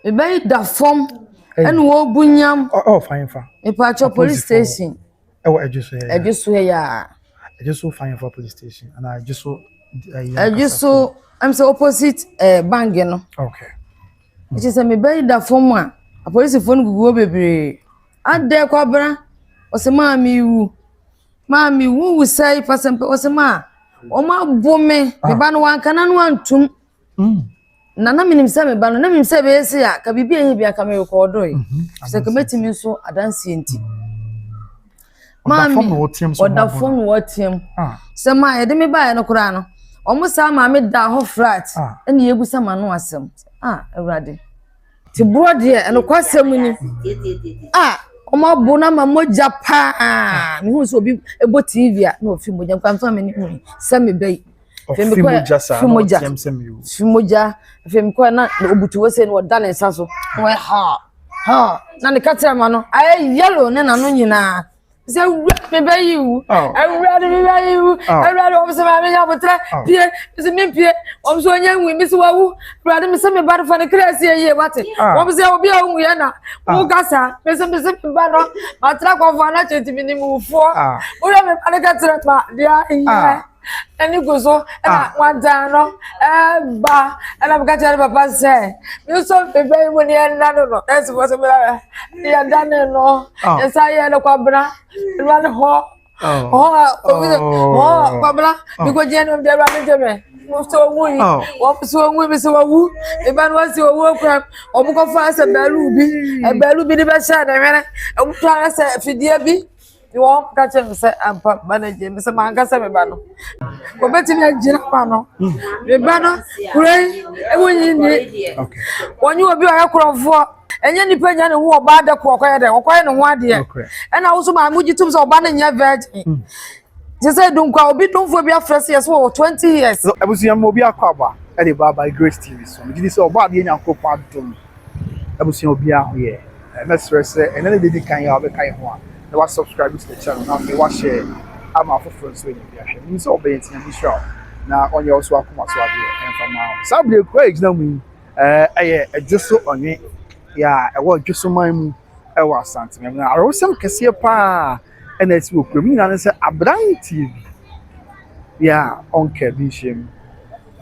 Mebɛyɛ da fam ɛna ɔrebu nyam. Mepatwɔ police station. Ɛwɔ Adwoso ha yi. Adwoso ha yi aa. Adwoso Fayenfa police station ɛna Adwoso. Adwoso ɛm sɛ opposite ɛɛ bank no. Okay. Ɛkyɛ sɛ mebɛyɛ da fam a apolisifoɔ no gugu hɔ bebree. Adɛ kwabra ɔsɛ maa mewu maa mewu wusɛe pasɛmpɛ ɔsɛ maa wɔn abo me. Meba no wankana no antum. Na na menim sɛ me ba no, na menim sɛ ɛbɛyɛ sei a, ka biribi a ɛnyɛ bi anka merekɔɔdoe. Mhm. Sɛ ka mɛtumi nso adanseɛ nti. Maame, ɔda fam na wɔteam. Ah. Sɛ ma yɛde me baeɛ no koraa no, wɔn saa maame da hɔ frat, ah. ɛna yɛbusa ma no asɛm. A, ah, Awurade. Te borɔ deɛ, ɛnokwasɛm ni. A, wɔn abo no ama mogya paa. Mehu sɛ obi bɔ TV a, na ɔfi mogya, nkwanfa me ne hu sɛ mebɛyi. Ɔfi Femi kɔ- mogya saa fi na mogya. ɔteɛm sɛ mewu. fi mogya afei mekɔɛ na na ɔbutu hɔ sei na ɔda ne nsa so na ɔyɛ ha ha na ne kakyɛ ma no ayɛ yellow ne nano nyinaa sɛ awura mebɛyi wu Aw. awura de mebɛyi wu Aw. awura de wɔm sɛ maame nya abotrɛ Aw. pie mesɛ mempie wɔm sɛ ɔnyɛ nwi mesɛ wawu awurade mesɛ meba no fa ne kra sie yie wate Aw. wɔm sɛ obi a wonwuiɛ na woka saa mesɛ mesɛ meba no matra kɔfoɔ no akyɛ nti menim wufoɔ Aw. wowura meba no ka kyerɛ ma deɛ nyɛ Ah. ɛne gu so ɛna ah. wadan no ɛba ɛna meka kyerɛ ne papa sɛ me nso mebɛ yi mu ne ɛna no no ɛsi fɔ so mena yɛda ne no ah. yɛsa yɛ no kwabena ɛna ne hɔ hɔ a obi sɛ hɔ a kwabena mekɔgyina ne mu biara ne gye me sɛ ɔwu yi wɔn sɛ ɔwu mi sɛ ɔwu ɛba no wɔsi ɔwu okura wɔn kɔfa sɛ bɛɛlu bi ɛbɛɛlu bi de bɛhyɛ ne hwene ɛmu to ara sɛ fidie bi. ne wɔn ka kyerɛ me sɛ ampa ba no agye me sɛ manka sɛ meba no wɔbɛtumi agyina ma no meba no kura yi ɛmu nyi ni wɔnye obi ɔyɛ korɔfoɔ ɛnyɛ nipa nya ne ho ɔbaa dɛ kɔ ɔkɔyɛ dɛ ɔkɔyɛ ne ho adeɛ ɛna woso maa mo gye tom sɛ ɔba no nyɛ virgin mm. te sɛ dunkwa obi domfoɔ bi afrɛ sɛ yɛsɛ wɔ 20 years abusua mu obi akɔ aba ɛde ba by grace tv so megye di sɛ ɔbɔ adeɛ nyankopɔn adom abusua obiara ho yɛ. Mɛsrɛ sɛ ɛnnɛ ne deɛ ɛdi kan yi a wobɛka yɛn ho a na wa subscribe to the channel na afei wa share ama afoforɔ nso anya bi ahwɛ. Menim sɛ wobɛyɛ nti Nyame nhyira wo na ɔnyɛ wo nso w'akoma so adeɛ ɛmfa mma wo. Saa berɛ kuro a yɛgyina mu yi ɛyɛ Dwoso Ɔnwe yɛ a ɛwɔ Dwoso man mu ɛwɔ Asante. Awerɛhosɛm kɛseɛ paa. na asi wɔ kurom. Ne nyinaa ne sɛ aberanteɛ bi bi a ɔnka bi nhyiam.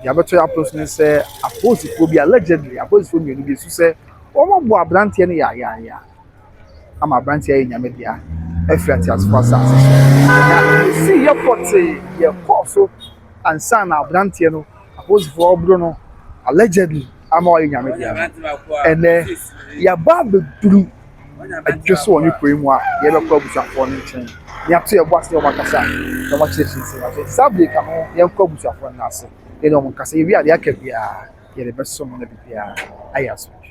Deɛ abɛto yɛn apɔ so ne sɛ apolisifoɔ bi allegedly apolisifoɔ mmienu bi su sɛ wɔabɔ aberanteɛ no yayaya ama aberanteɛ ayɛ nyame dea afiri ateasefoɔ asase so. Na ɛsi yɛ pɔtee yɛ kɔɔ so ansa na aberanteɛ no apolisifoɔ ɔboro no allegedly ama wayɛ nyame dea no, ɛnɛ yɛaba abɛduru adwe so wɔ ne kuro yi mu a yɛbɛkɔ abusuafoɔ no nkyɛn na yɛato yɛn bo ase wɔn akasa na wɔn akyerɛ kyerɛ sɛ afei saa bere ka ho yɛnkɔ abusuafoɔ no ase yɛne wɔn nkasa yɛwie a deɛ aka biara yɛde bɛso no na biribiara ayɛ asomdwe.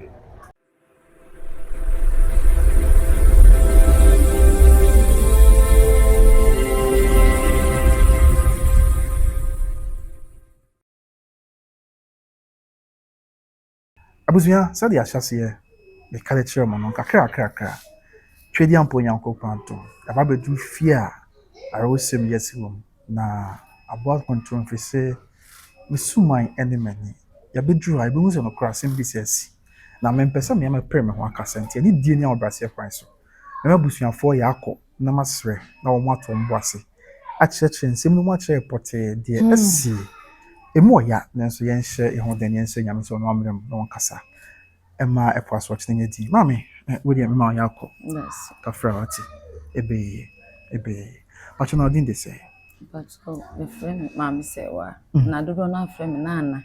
Abusua, sɛdeɛ ahyɛaseɛ meka de kyerɛɛ mo no, kakrakrakra, Tweaduampɔ Onyankopɔn adom, yɛaba abɛduru fie a awerɛhosɛm yi asi wɔ mu, na aboa nkontom firi sɛ me suman ne m'ani. Yɛabɛduru ha, yɛbɛhu sɛ nokorɛ asɛm bi sɛ asi, na mempɛ sɛ meyɛ mɛpere me ho aka sɛ nti, anidie ne ahobrɛaseɛ kwan so, me ne m'abusuafoɔ yɛakɔ. na masrɛ na wɔato wɔn bo ase akyerɛkyerɛ nsɛm no mu akyerɛ pɔtee deɛ asie. Emu wɔ ya, nanso yɛnhyɛ yɛn ho den na yɛnsrɛ Nyame sɛ ɔnoa mmrɛ mu na ɔnkasa mma ɛpo asorɔkye no nyɛ dinn. Maame, eh, wo deɛ mema wo yɛakɔ. Kafra, wate? Ɛbɛyɛ yie, ɛbɛyɛ yie. Pakyɛ na wo din de sɛn? Pakyɛ, wɔfrɛ me Maame Sɛwa, na dodoɔ no ara frɛ me Nana.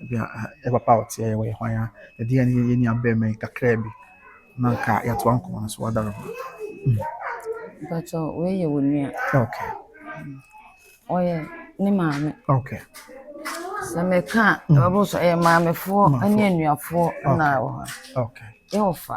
Ebia yɛn papa a ɔteɛ wɔ yɛn ho a yɛde yɛn ne yɛn nuabarima yi kakraa bi na anka yɛatoa nkɔmmɔ no so wɔ adaro ho. Mpatsɔ wei yɛ wɔn nua. Okay. Ɔyɛ ne maame. Okay. Sɛ mɛka a, ɛbɛbɔ so ɛyɛ maamefoɔ ne anuafoɔ na ɛwɔ hɔ. Okay. Yɛwɔ fa.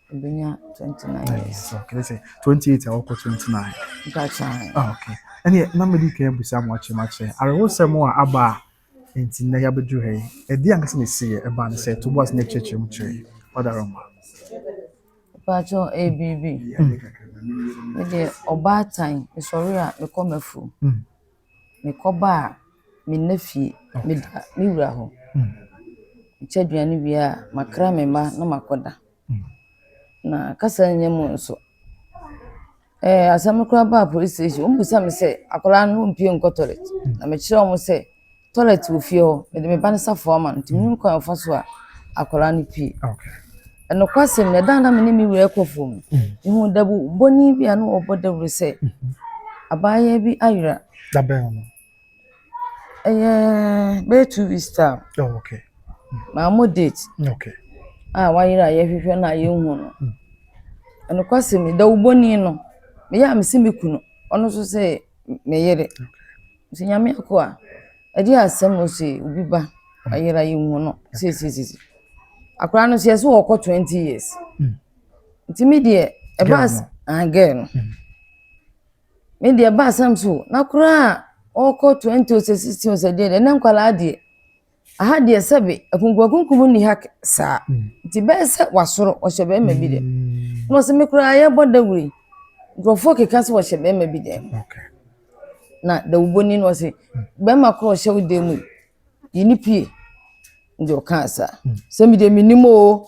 Obenya twenty nine years. Kɛlɛ sɛ twenty eight a ɔkɔ twenty nine. Gotcha. Ah, okay. Ɛnni na mɛ di kan ebusa mu akyɛ mu akyɛ. Arewosɛm a aba a nti na yabedu ha yi. Ɛdi ankasa na esi yɛ ɛba ne sɛ tubu ase na ɛkyerɛkyerɛ mu kyerɛ yi. Ɔda rɔ ma. Patsɔ ebibi. Ɛdi ɔbaatan esɔre a mekɔ mafu. mekɔbaa me nã fie, meda me wura hɔ. Mekyɛ aduane wie a, makra me mma na makɔda. Na kasa nnya mu nso, ɛɛ asɛm no koraa baa polis station, wɔbisa me sɛ, akwadaa no wompue nkɔ toilet? Na mekyerɛɛ wɔn sɛ, toilet wɔ fie hɔ, mede me ba no safoa ma no, nti mennim kwan a wɔfa so a akwadaa no pue. Nokwasɛm ni, ɛda a na me ne me wura rekɔ fam no, mihuu dabubɔni bi a na ɔbɔ dawuru sɛ abaayewa bi ayera. Da bɛn no? Ɛyɛ bɛyɛ two weeks time. Oh, okay. Maa mo date. Okay. A wayera a yɛhwehwɛ no a yɛnhu no. Nokwasɛm ni, dawubɔni no, meyɛ a mese me kunu, ɔno nso sɛ me yere. Okay. Ntsi Nyame akoa, egye asɛm ose obi ba ayera yehu no sesesese. Akora no so yɛse ɔkɔ twenty years. Ntsi me deɛ ɛbaa s ah girl no. Me deɛ ɛbaa asɛm so na koraa ɔkɔ twenty o sɛ sixteen o sɛ deɛn deɛ ɛnɛ nkwadaa deɛ. Aha deɛ sɛbe akunkumakunkum nni ha saa, nti bɛyɛ sɛ wasoro, ɔhyɛ bɛrima bi dɛm. Na ɔse me koraa yɛbɔ dawuro yi, nkurɔfoɔ keka sɛ ɔhyɛ bɛrima bi dɛm. Na dawubɔni no ɔse bɛrima korɔ ɔhyɛ wo dɛm mu yi, yi ne pie. Nti ɔkaa saa, sɛ me deɛ mennim oo.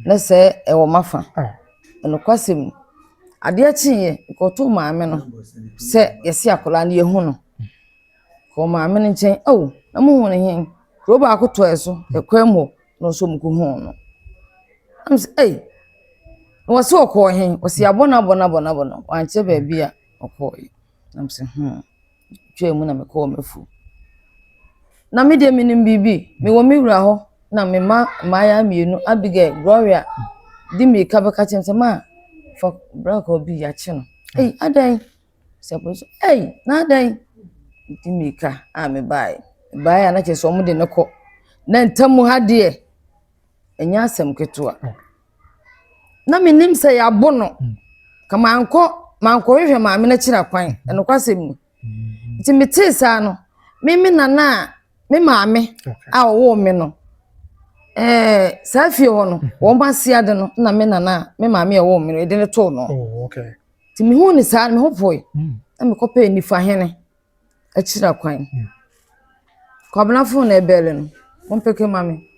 na sɛ ɛwɔ m'afa. Nokwasɛm ni, adeɛ kyeeɛ, mekɔtoo maame no sɛ yɛse akwadaa no yɛahu no. Mekɔɔ maame no nkyɛn, ao na mohu no he? Kuro baako tɔɔɛ so yɛ kwan mu hɔ na ɔno nso mekɔhuu no. Na mese ei, na wɔse ɔkɔɔ he? Wɔse yɛabɔ no abɔ no abɔ no abɔ no, wankyerɛ baabi a ɔkɔeɛ. Na mese hmm. twaa mu na mekɔɔ m'afuom. Na me deɛ menim biribi, mewɔ me wura hɔ na me mma mmaayaa mmienu, Abigail, Gloria, di mmirika bɛka kyerɛ me sɛ, maa fa bra kɔ bi yɛakye no. Ei, adɛn? Sɛ bɔ so, ei, na adɛn? Di mmirika a mebaeɛ. Mebaeɛ a na kyerɛ sɛ wɔde no kɔ. Na ntam ha deɛ, ɛnyɛ asɛm ketewa. na menim sɛ yɛabo no ka mankɔ mankɔhwehwɛ maame no akyiri akwan ɛnokwasɛm ni nti metee saa no me me nana a me maame a ɔwɔ me no ɛɛ saa fie hɔ no wɔn ase ade no na me nana a me maame a ɔwɔ me no ɛde no too no oh, nti mehu ne saa meho poe hmm. na mekɔpɛɛ nifahene akyira kwan. Kwabena fon na ɛbɛɛle no, mompeke mma me.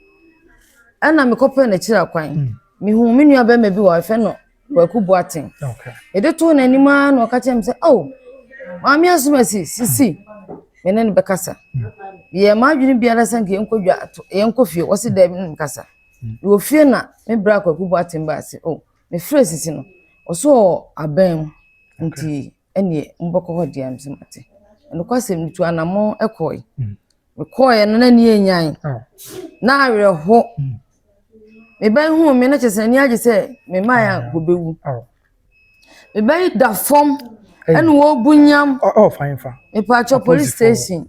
Ɛna mekɔpɛɛ no akyira kwan. Mehuu me nua bɛrima bi wɔ hɔ, ɛfɛ no Kwaku Boaten. Mede too n'anim ara na ɔka kyerɛ me sɛ, oh, maame asomasi, sisi, me ne no bɛkasa. Yɛ m'adwene biara sɛ nka yɛnkɔ dwa ato, yɛnkɔ fie. Wɔsi daabi ne no kasa. Wɔ fie na me bra Kwaku Boaten baa se, oh, Mefrɛɛ sisi no, ɔsɛ ɔaban mu, ntsi ɛneɛ mobɛkɔ hɔ deɛ a mese mate. Nokwasɛm no tu anamɔn kɔɔe. Mekɔɔeɛ no na n'ani anyan, na awerɛho. Me ba yi huu me no kyerɛ sɛ n'ani agye sɛ me mmaeɛ a wɔbɛwu. Me ba yi da fam ɛna wɔrebu nyam. Mepaakyɛ police station.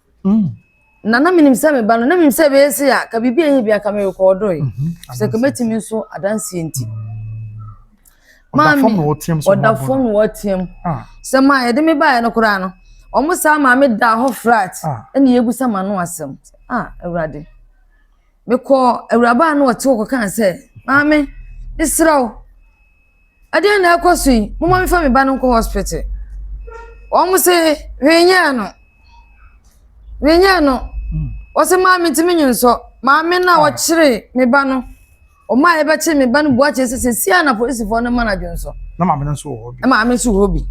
Na na menim sɛ meba no, na menim sɛ ɛbɛyɛ se a, ka biribi a ɛnyɛ bi aka me rekɔɔdoe. Mhm. Sɛ ka mɛtumi nso adanseɛ nti. Maame, ɔda fam na wɔteam. Ah. Sɛ ma yɛde me baeɛ no koraa no, wɔn saa maame da hɔ flat ah. ɛna yɛbusa ma no asɛm. Ah, Awurade. Mekɔ awuraba a na ɔte hɔ kɔkaa sɛ, maame, mesrɛ wo, Ɛdeɛn na ɛrekɔ so yi? Momma mefa me ba no nkɔ hospital. Wɔn se, hwee nyɛɛ no. Hwee nyɛɛ no. Wɔse, maame nti me nyonsɔ. Maame no a wɔkyere me ba no, wɔn a yɛbɛkyere me ba no bua kyerɛ sɛ sɛsi a na polisifoɔ no ma no adwonsɔ. Na maame no nso wɔ hɔ bi. Na maame nso wɔ hɔ bi.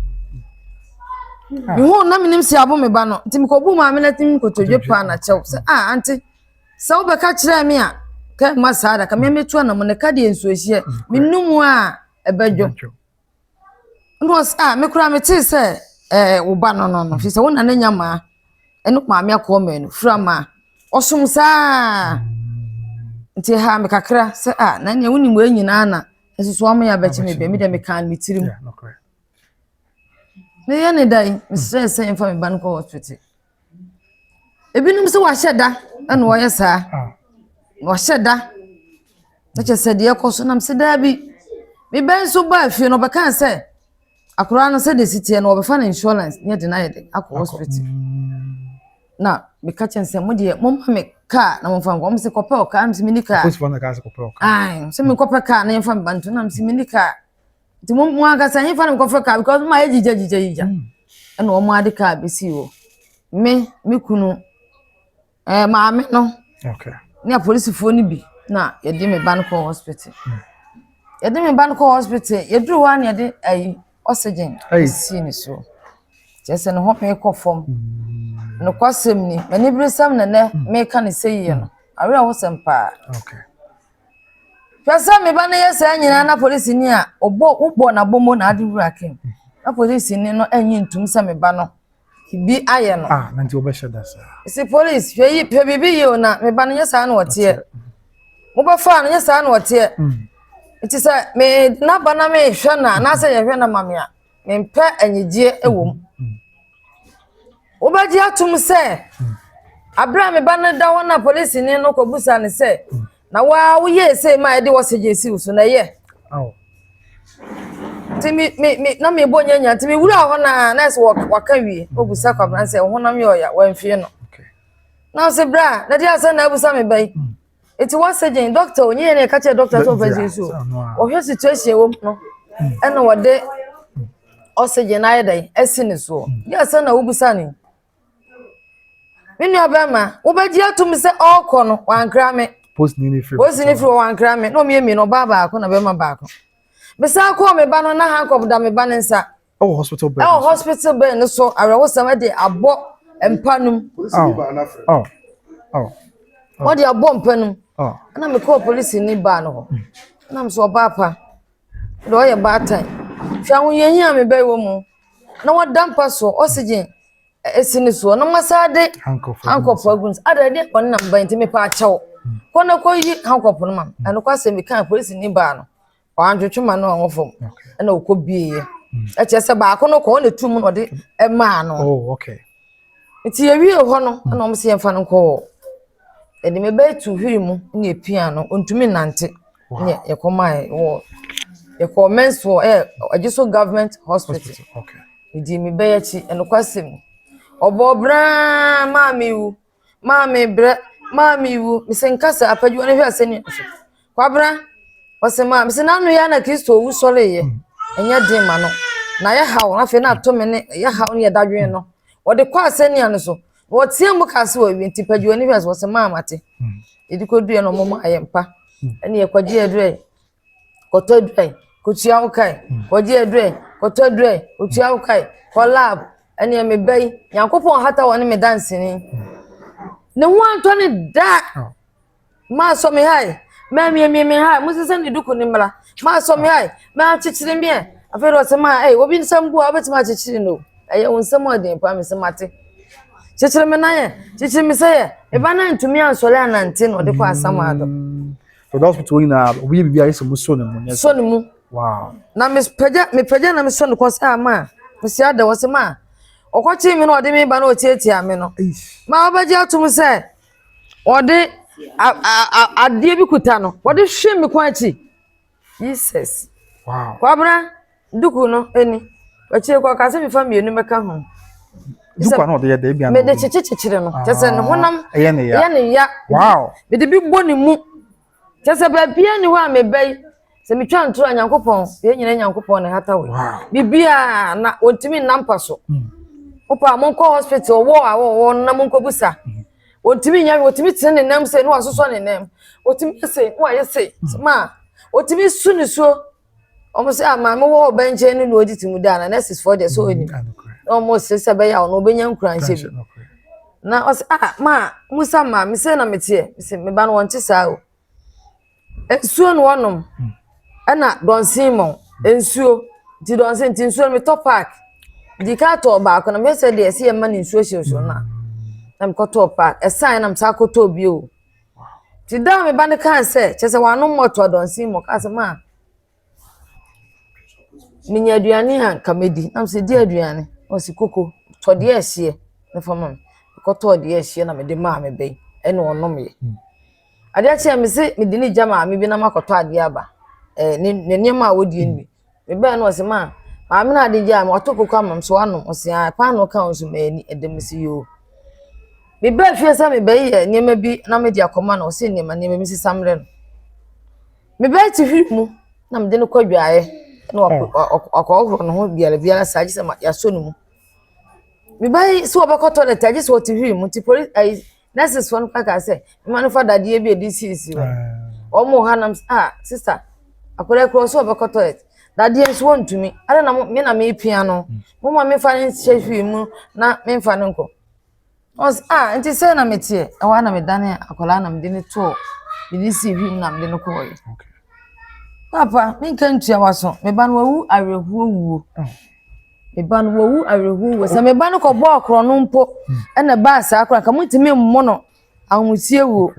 Ah. Mehu na menim si abo me ba no. Nti mekɔbu maame no atim nkotodwe paa na kyɛw sɛ, ah, ante. Sɛ wobɛka kyerɛɛ me a, kɛ mma saa da, ka me mɛtu anamɔ na ka deɛ nsuohyeɛ, me nu mu a ɛbɛdwo. Ɛna ɔsɛ, a, me koraa metee sɛ ɛɛ wo ba no no no, fi sɛ wo nana nya maa, ɛne maame akɔɔ mmienu, fura maa, ɔsom saa. Nti ɛhaa me kakra sɛ, a, na nea wonim wei nyinaa na nso so wɔn yɛ abɛkye me bɛ, me deɛ mekaa no me tirim. Meyɛ ne da yi, mesrɛ sɛ mfa me ba no kɔ hospital. Ebinom nso wɔahyɛ da na wɔyɛ saa. Wɔahyɛ da na kyerɛ sɛ deɛ ɛrekɔ so na mese daabi. Me ba nso baa fie no ɔbɛkaa sɛ akwadaa no sɛdeɛ ɛsi teɛ no wɔbɛfa no insurance na yɛde no ayɛ dɛn akɔ hospital. Na meka kyerɛ no sɛ mo deɛ momma me kaa na momfa nkɔ. Wɔn sɛ kɔpɛ ɔkaa na mese menni kaa. Ae sɛ menkɔpɛ kaa na yɛmfa me ba nto na mese menni kaa. nti mo mo ankasa nyefa no nkɔfɛ kaa because mo ayɛ gyigya gyigya gyigya hmm. ɛna wɔn ade kaa besi hɔ me me kunu ɛɛ maame no ne apolisifoɔ no bi na yɛde me ba no kɔ hospital hmm. yɛde me ba no kɔ hospital yɛduru hɔ a na yɛde ɛyi oxygen ɛsi ne so kyerɛ sɛ ne ho pɛn kɔ fam hmm. nokwasɛm ni m'ani bere sɛm na nɛ meka ne sɛ yie no awerɛ ho sɛm paa. Okay. Hwɛ sɛ me ba no yɛ saa nyinaa na polisini a ɔbɔ wobɔ no abɔmmɔ na ade wura kem na polisini no nnye ntom sɛ me ba no bi ayɛ no. Ah, na nti wɔbɛhyɛ da saa. Si polisi hwɛ yi pɛ biribi yie o na me ba no nyɛ saa na ɔteɛ. Mobɛfaa no nyɛ saa na ɔteɛ. Nti sɛ me n'aba na mehwɛ no a anaasɛ yɛhwɛ no ma me a mempɛ anigyeɛ wɔ mu. Wobɛgye atom sɛ aberɛ a me ba no da hɔ na polisini no kɔbisa no sɛ, na wo ara woyɛɛ sei ma yɛde oxygen si wo so na ɛyɛ? Nti me me me na mebɔ nyanya nti mewura hɔ na nɛɛse waka wie ɔbusa kwabena sɛ wo honam yɛ ɔya wamfie no. Na ɔse berɛ a na de asɛ na abusa me ba yi. nti wɔsɛ gyen dɔkta o nyɛ yɛn na yɛka kyerɛ dɔkta sɛ ɔfa gyen so wɔhwɛ situation ɛwɔ mu no ɛna wɔde oxygen ayɛ dɛn asi ne soɔ yɛ asɛ na wobisa ne me nua bɛrima wobɛgye atom sɛ ɔrekɔ no wankra me posini ne firi wɔ wankra me na ɔmyɛ mmienu ɔbaa baako na bɛrima baako mesan kɔɔ me ba no na hankɔp da me ba ne nsa Ɛwɔ hospital bed. Ɛwɔ hospital bed no so awerɛhosɛm ɛde abɔ mpa no mu. Wɔde abɔ mpa no mu. Ɛna mi kɔɔ polisi ni baa no hɔ. Ɛna mi sɛ ɔbaa pa. Ɔde ɔyɛ baatan. Hwɛ ahohiahia a mi bɛ wɔ mu. Na wɔda mpa so oxygen esi ne soɔ. Na wɔn san de hankɔfo agu ne so. Ada ɛde wɔn nam ba nti mi pa akyɛw. Kɔ na kɔ yi hankɔfo no ma. Ɛno kɔ asɛm mi kaa polisi ni baa no. ɔantwetwe ma no ɔho fam ɛna ɔkɔ bieɛ ɛkyerɛ sɛ baako no kɔ ɔna tu mu na ɔde ɛmaa no nti yɛwie hɔ no ɛna ɔmo sɛ yɛmfa no nkɔ ɛde me bɛyɛ tu hwiri mu na yɛpia no ɔntumi nante ne yɛkɔ maa wɔ yɛkɔ mɛnsoɔ ɛyɛ ɛgye so government hospital ɛdi me bɛyɛ akyi ɛnokwa sɛm ɔbɔ braa maa me wu Maa me brɛ, maa me wu. Mese nka sɛ apadwa no hwɛ sɛ ne nsu. Kwabena, ɔse maa mese n'ano yɛ na Kristo owu sɔre yɛ. Ɛnyɛ den ma no. Na yɛ haw na afei na ato me ne yɛ haw ne yɛ dadwen no. Wɔde kɔ asɛnniya no so. Na wɔteɛ mu kaa sɛ wɔawie nti padwa no hwɛ sɛ wɔse maa mate. Yɛde kɔduɛ no ɔmo maa yɛ mpa. Ɛne yɛ kɔgye yɛ duɛ. kɔtɔ aduru ɛ, kɔtua wo ka ɛ, kɔgye aduru ɛ, kɔtɔ aduru ɛ, kɔtua wo ka ɛ, kɔ lab, ɛneɛ me ba yi, Nyankopɔn hata wɔ ne me danseni. Ne ho antɔ ne da. Maa sɔ me ha ɛ, maa miemie me ha ɛ, mo sesɛ ne duku ne mmra, maa sɔ me ha ɛ, maa kyekyere me ɛ. Afei de ɔsɛ maa ɛ, obi nsɛm bu a, wobɛtumi akyekyere no. Ɛyɛ wo nsɛm a ɔden paa, me sɛ mate. Kyekyere me nan ɛ, kyekyere me sɛ ɛ, me ba no antumi ansɔre anante na ɔde kɔ asamado. Dɔdɔs kutu wɔn nyinaa obi yɛ biribiara sɛ mo sɔ ne mu. ne sɔ ne mu. Wow. na mepagya mepagya na mesɔ ne kɔn sɛ a ma mesi ada wɔ se ma ɔkɔkyee me na ɔde me ba na ɔtiatia me no ma ɔbɛgye atom sɛ ɔde adeɛ bi kuta no ɔde hwe me kwan akyi jesus kwabra Duku no ni. Akyire kɔ ɔka sɛ mefa mmienu mɛka ho. Duku a na ɔde yɛ dɛ ebi ano. Mede kyekye kyekyere no. Kyɛ sɛ ne honam ah, ɛyɛ ne ya. Ɛyɛ ne ya. Wow. Mede bi bɔ ne mu. Kyɛ sɛ baabi a ni hɔ a meba yi sɛ metwa ntoro a Nyankopɔn yɛn nyinaa Nyankopɔn na ɛhata wɔ. Biribiara na wɔntumi nna mpa so. Hmm. Wopɛ a monkɔ hospital ɔwɔ a wɔwɔ no na monkɔbusa. Hmm. Wɔntumi nyɛ wɔtumi tene ne nam sɛ ne wasosɔ ne nam. Wɔtumi yɛ sɛ ne wayɛ sɛ hmm. ma wɔtumi su ne suo. wɔn sɛ a maame wɔ ɔbɛn nkyɛn no na ɔdi ti mu daa na nurses foɔ deɛ sɛ mm, ɔnim na wɔn sɛ sɛ bɛyɛ a ɔno ɔbɛnya nkuranhyɛ bi na ɔsɛ a ah, maa musa maame sɛ na meteɛ sɛ meba no wɔn te saa o nsuo na wɔnom mm. ɛna dɔnsen mɔ nsuo nti dɔnsen nti nsuo no metɔ paak di ka tɔ baako na mesɛ deɛ ɛsɛ yɛ mma ne nsuo hyɛ nsuo no a na mekɔtɔ paak ɛsan na mesa kɔtɔ bio. Nti da a me ba no kaa sɛ, kyerɛ sɛ wano mmɔto adɔnsin mu, ɔkaa sɛ, ma menya aduane a nka mɛdi. Nam sɛ di aduane. Na ɔsi koko, tɔ deɛ ɛhyeɛ na fa ma me. Mekɔtɔɔ deɛ ɛhyeɛ na mede maa me ba yi, ɛna ɔnomeɛ. Hmm. Adeɛ kyɛɛ me se mede ne gya maame bi na makɔtɔ adeɛ aba. Eh, ne, ne nneɛma a wɔdie no bi. Mebae no ɔse ma maame no ade gyae me wato koko ama me so wanom ɔse ae paanoo ka wo nso ma ani ɛdɛ mese yoo mebae fie sɛ mebɛyɛ nneɛma bi na mede akɔma no ɔse nneɛma nneɛma bi sesa mmerɛ no mebae te hwiri mu na mede no kɔ adwaeɛ na wakɔhohoro ne ho biara biara saa gye sɛ yɛasɔ ne mu mebae sɛ wɔbɛkɔ toilet agye sɛ ɔte hwiri mu nti polisi nurses fo no ka ka sɛ mma no fa dadeɛ bi a ɛde siesie hɔ wɔn wɔ ha nam ah sista akwadaa kura ɔsɛ ɔbɛkɔ toilet dadeɛ nso wɔntumi ara na me na mepia no mo ma mefa no nhyɛ hwee mu na memfa no nkɔ ɔs ah nti sɛ na meteɛ ɛwɔ na medane akwadaa na mede no tɔɔ mede si hwee mu na mede no kɔɔyɛ papa menka ntua waso meba no wawu awerɛhoɔ wuo oh. Me ba no wawu awerɛhow wɔ sɛ me ba no kɔbɔɔ korɔno mpo ɛna ɛbaa saa koraa nka montumi mmo no ahomusie wuo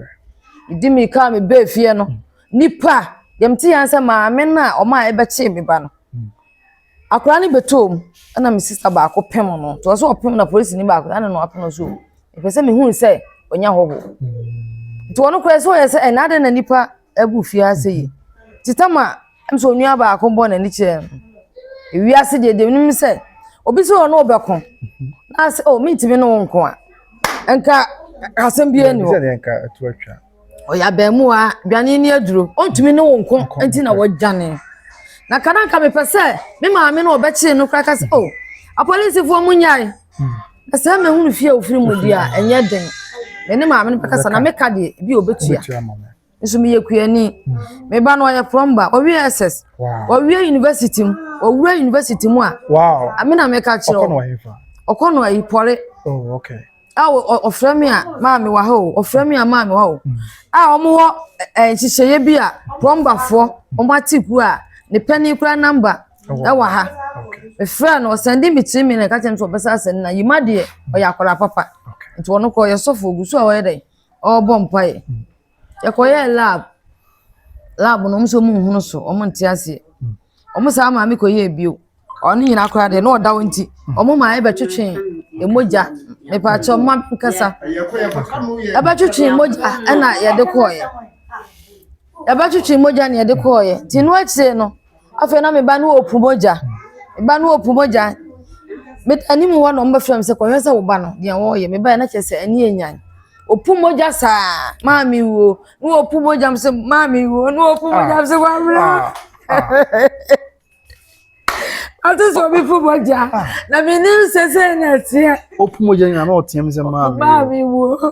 medi mirika a mebaa fie no nipa deɛ mete yɛn sɛ maame no a ɔma a ɛbɛkyee me ba no akwaraa no bɛtɔɔ mu ɛna me sista baako pem no nti ɔsɛ ɔpem na polisini baako ɛna na ɔapem no so ɛpɛ sɛ mehunu sɛ ɔnya hɔho nti ɔno koraa sɛ ɔyɛ sɛ ɛna adɛn na nipa Egu fiase yi, ntsi tam a nna sɛ onua baako bɔ n'enyi kyerɛ no, wiase deɛ deɛ menim ne sɛ, obi sɛ ɔne wo bɛko na sɛ oh mentumi ne wo nko a, nka asɛm biara ni hɔ. Ɔyɛ abaamuwa, dwane ni aduro, ɔntumi ne wo nko nti na wɔdwane. Na ka na nka mepɛ sɛ me maame no ɔbɛkyee no koraa ka sɛ oh apolisifoɔ mo nyae. Na sɛ mehunu fie a ofiri mu deɛ a, ɛnyɛ den. Me ne maame no bɛkasa na meka deɛ ebi a obetua. Nso meyɛ kuani. Hmm. Me ba no ɔyɛ plumber, ɔwie SS. Ɔwie university mu, ɔwura university mu a. Wow. Ame na meka kyerɛ. Ɔkɔ no ɔyɛ fa. Ɔkɔ no ayi pɔre. Oh, okay. A ɔfrɛ me a maame wɔ ha o, ɔfrɛ me a maame wɔ ha o. Hmm. A wɔn wɔ nhyehyɛeɛ bi a plumberfoɔ wɔn ate ku a ne pɛni kura namba. ɛwɔ ha mefrɛ no ɔsɛnde me tiri mi na ɛka kyerɛ me sɛ ɔbɛsa asɛnde na yima deɛ ɔyɛ akwadaa papa nti ɔno kɔ ɔyɛ sɔfo ogu so a ɔyɛ dɛn ɔrebɔ mpaeɛ hmm. yɛkɔyɛ lab lab no ɔmo sɛ ɔmo nhunu so ɔmo nte aseɛ hmm. ɔmo saa maame kɔ yɛ bio ɔno nyinaa koraa deɛ na ɔda hɔ nti hmm. ɔmo maa ɛbɛtwetwe emogya mepaakyɛ ɔmo nkasa ɛbɛtwetwe mogya ɛna yɛde kɔɔyɛ ɛbɛtwetwe mogya na yɛde kɔɔyɛ nti no akyire no. Afei na me ba no repu mogya. Me ba no repu mogya. Me anim hɔ na wɔbɛfrɛ me sɛ kɔhwɛ sɛ wo ba no deɛ wɔreyɛ. Me ba yɛ na kyerɛ sɛ ani yɛ nyan. Opu mogya saa maame wuo na opu mogya sɛ maame wuo na opu mogya sɛ maame wuo. Ah, ah. Ate sɛ obi pu mogya ah. na me nim sɛ sɛ na ɛteɛ. Opu mogya nyina na ɔteɛ me sɛ maame wuo. Maame wuo.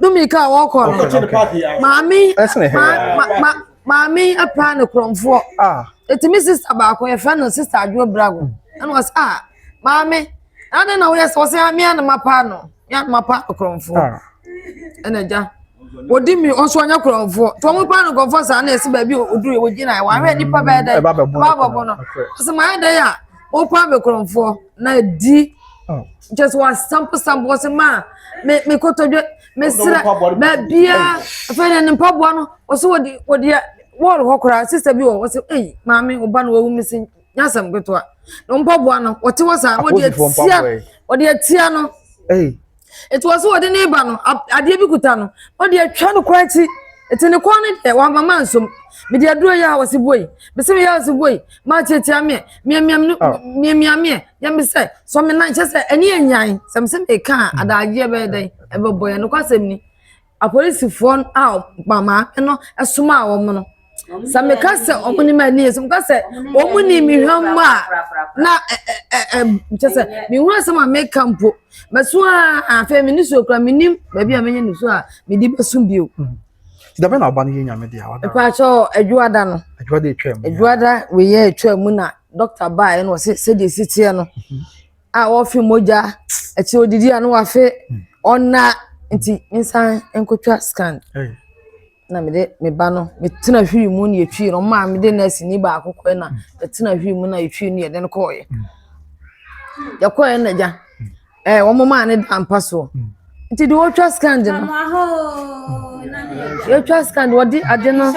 Dominika a wɔkɔ no maame maame apaa ne korɔmfoɔ ɛtumi sista baako yɛfrɛ no sista adwo brago ɛna ɔsɛ a maame ade na woyɛ sɛ ɔsɛ a mea ne mapaa no mea ne mapaa no korɔmfoɔ ɛna gya wɔdi mi ɔso ɔnyɛ korɔmfoɔ nti wɔn paa no korɔmfoɔ saa na ɛsi baabi ɔduru wɔgyina yɛ wɔahwɛ nipa bɛyɛ dɛ ɛba bɛbɔ no ɔsɛ maa yɛ dɛ yɛ a wɔpaa bɛ korɔmfoɔ na di kyɛ sɛ wasamposampo wɔ se maa me me kotodwe mesrɛ baabia afei ne ne mpaboa no ɔsɛ wɔde wɔdeɛ wɔɔl hɔ koraa sista bi wɔ ɔsɛ ei maame ɔba no wawu me se nyasɛm ketewa na mpaboa no wɔte hɔ saa na wɔde atia wɔde atia no. Enti wɔn so wɔde ne ba no, adeɛ bi kuta no, wɔde atwa no kɔ akyi. Eti ne kɔn no deɛ wama ma nsom. Mede aduro yɛ a wɔsi boi. Mese meyɛ a wɔsi boi. Maa kyeakyea meɛ. Miamia me ah. miamia meɛ. Yɛ me sɛ sɔ me nan kyɛ sɛ ɛne anyan. Sɛ mese meka a mm. adagyeɛ bɛyɛ dɛn ɛbɛbɔ yɛ nokwasɛm ni. apolisifoɔ no a ma maame no somaa wɔn no sɛ meka sɛ wɔn nim ani yɛ sɛ meka sɛ wɔn nim mehwɛ mu a na ɛ ɛ ɛ kyɛ sɛ mehunu asɛm a meka mpo mɛso a afei me ne suo kura menim baabi a menya ne suo a mede bɛso bio. Mm-hmm. dabe na ɔba no yɛ nyame deɛ ɔda ɛpaakyɛ adwuada no adwuada atwa mu adwuada weyɛ atwa mu na dɔkta baa ɛna ɔsɛ sɛdeɛ ɛsi teɛ no mm-hmm. a ɔrefe mogya, akyire odidi a na wafe, ɔna nti mensan nkɔtwa scan. Na mede me ba no metena hwiri mu na yɛtwii no maa mede nɛɛseni baako kɔɛ na yɛtena hwiri mu na yɛtwii no yɛde no kɔɔyɛ. Yɛkɔɔyɛ na gya, ɛɛ wɔn maa ne da mpa soɔ. Nti deɛ wɔtwa scan de no, yɛtwa scan de wɔde ade no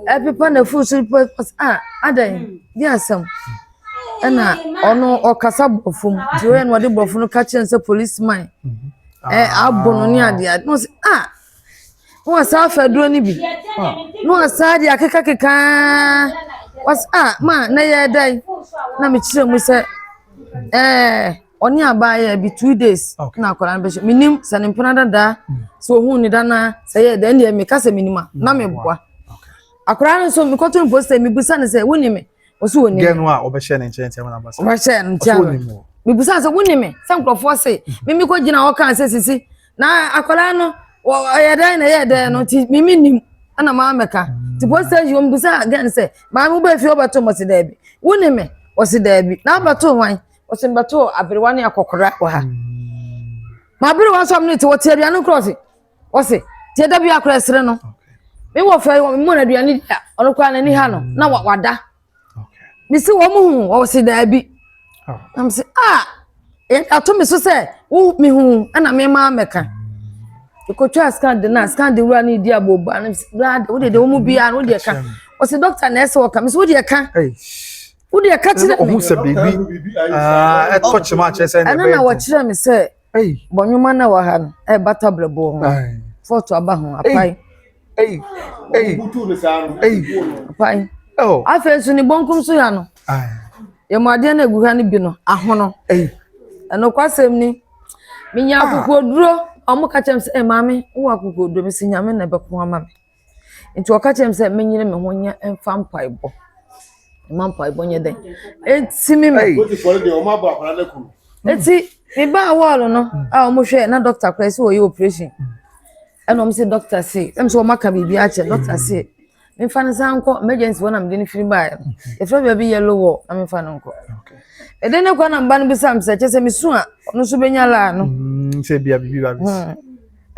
ɛpepa na furu so pepa a adɛn, di asɛm. ɛna ɔno ɔkasa borɔfo mu nti ɔyɛ na ɔde borɔfo no ka kyerɛ no sɛ police man ɛ abo no ne adeɛ na ɔsɛ ah na wasa afɛ aduro no bi na wasa de akekakeka wasa ah ma na yɛ dɛn na mekyerɛ mu sɛ ɛɛ ɔne abaayewa bi two days na akwadaa no bɛhyɛ menim sɛ ne mpena dadaa sɛ ohun ne dana sɛ yɛ dɛn deɛ meka sɛ menim a na meboa akwadaa no nso mekɔto no post sɛ mebisa no sɛ wonim me. ɔsɛ ɔnim gɛ no a ɔbɛhyɛ ne nkyɛn tiama na basa ɔbɛhyɛ no tiama bibusa sɛ wone me sɛ nkurɔfoɔ se mimi kɔ gyina hɔ kaa sɛ sisi na akwadaa no ɔyɛ dɛn na ɛyɛ dɛn no nti mimi nim ɛna maa mɛka nti mm. post station wɔn bisa gɛ no sɛ maame wobɛ fie wobɛto mo se daabi wone me ɔse daabi na abɛto hwan ɔse mbɛto aberewa ne akɔkora wɔ ha mm. ma aberewa nso ɔmo ne te wɔte aduane korɔ se wɔsi tiɛ dabi akora ɛsere no mi wɔ fɛ mu na aduane di a ɔno koraa n'ani ha no na wada mi si wɔn hu wɔsi daabi oh. na mi si a ato mi so sɛ wo mi hu ɛna mi maa mɛka ekotwa scan de na scan de wura ne di abo ba ne si wura de wo de de wɔn mu bia no wo de ɛka wɔsi dɔkta na ɛsɛ wɔka mi si wo de ɛka wo de ɛka kyerɛ mi ɛno na wɔkyerɛ mi sɛ. Ei. Bɔ nnwuma no a ɛwɔ ha no ɛrebata brɛboɔ ho. Ae. Fɔɔto aba ho, apae. Ei. Ei. Wobutu no saa no. Ei. Apae. Oh. Afei nso ne bonkum so ha no. Ae. Yɛmu adeɛ no egu ha no bi no, ahono. Ei. Ɛnokwasɛm ni, menya akokoɔduro, wɔn ka kyerɛ me sɛ, eh, maame, wowɔ akokoɔduro? Mesi nyame na ɛbɛko ama me. Nti ɔka kyerɛɛ me sɛ menyere me ho nyɛ mfa mpaebɔ. Mma mpaebɔ nyɛ dɛn? Ɛntimi me. Nti mebaa wɔɔlo no a wɔhwɛ na dɔkta koraa sɛ wɔyɛ operation. Ɛna wɔn sɛ dɔkta se, ɛm sɛ wɔn aka biribi akyɛ dɔkta se, mefa ne san nkɔ emergency hɔ na mede ne firi baeɛ no. Yɛfrɛ baabi yellow wall na mefa no nkɔ. Ɛdɛn ne kwan na mba no bisa me sɛ kyɛ sɛ mesu a ɔno nso bɛnya laa no. Mm, sɛ bia biribi ba bɛsi. Hmm.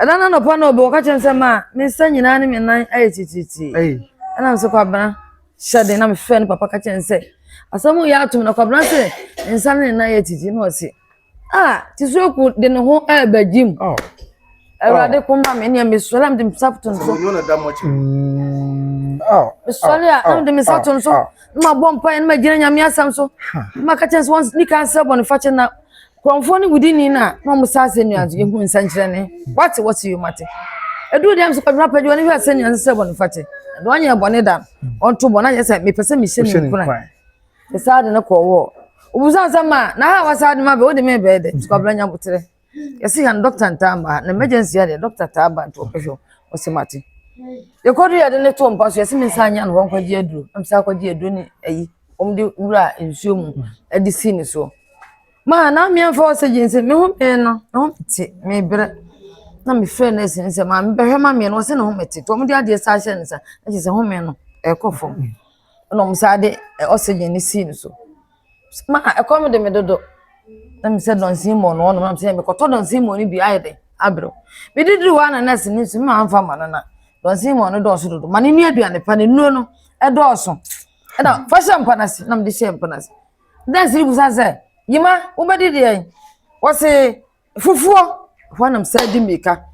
Ɛda no anɔpa na ɔbɔ ɔka kyerɛ me sɛ ma me nsa nyinaa ne me nan ayɛ titiritii. Ɛna nso kwabena hyɛ den na mefrɛ ne papa ka kyerɛ no sɛ asɛm yɛ atom na kwabena sɛ ne nsa ne ne nan yɛ titiri na ɔse ah tisuaku de ne ho ɛɛba gyim. Oh. Awurade oh. koma me nea mesɔre a mede me nsa to no so. Mm, oh. Mesɔre a na mede me nsa to no so na mabɔ mpaeɛ na magyina nyame asɛm so na maka kyerɛ sɛ wɔn nika nsɛ bɔne fakyɛ na Kurɔnfoɔ no wudi ni no a na wɔn sa asɛ nua nso yɛhu nsɛnkyerɛnne wate wɔte yom ate ɛduru deɛ nso kɔdwena pɛgye wɔn hwɛ asɛ nua nso sɛ bɔne fate na wɔnyɛ bɔne da wɔnto bɔne ayɛ sɛ mepɛ sɛ mehyɛ ne nkura ne saa de no kɔɔ wɔ obusa sɛ ma na ha wasa de ma bɛ wode me bɛɛ dɛ nso kɔbla nya botere yɛsi ha no dɔkta ntaa ma ha na emergency adeɛ dɔkta taa ba nto ɔpɛhwɛ ɔsɛ mate yɛkɔdu yɛde ne to mpa so yɛsi me nsa anya no wɔnkɔgye aduro ɛmsa akɔgye aduro ne ayi wɔde wura nsuo mu de si ne so. Me a na meamfa oxygen sɛ me ho mete no, me ho mete, mebrɛ. Na mefrɛ nɛɛse no sɛ maame bɛhwɛ ma me no, ɔse ne ho mete. Nti wɔde adeɛ san hyɛɛ ne nsa, na kyerɛ sɛ home no ɛrekɔ fam. Ɛna wɔn san de oxygen no sii ne so. Ma ɛkɔm de me dodo. Na me sɛ dɔnsin mɔ no ɔnom, na me sɛ mekɔtɔ dɔnsin mɔ no bi ayɛ dɛ abrɛ. Mede duru hɔ na nɛɛse no nso mma amfa ma no na dɔnsin mɔ no dɔɔso dodo. Ma no nni aduane pa, ne nnuro no ɛdɔɔso. ɛna fa hyɛ mpa no ase na mede hyɛ mpa no ase danse no busa sɛ yima wobɛdi deɛn wɔse fufuo ɛhɔ anam saa di mmirika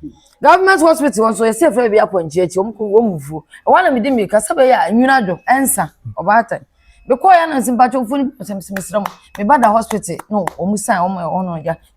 government hospital nso yɛsɛ fɛ bi apɔnkye akyi wɔn kɔ wɔn mufuo ɛhɔ anam di mmirika sɛ bɛyɛ a nwunu adwo ɛnsa ɔbaatan mekɔɔ yɛ anansi mpatwomfo no bi sɛ mesrɛ mo meba da hospital no wɔn san wɔn wɔn no gya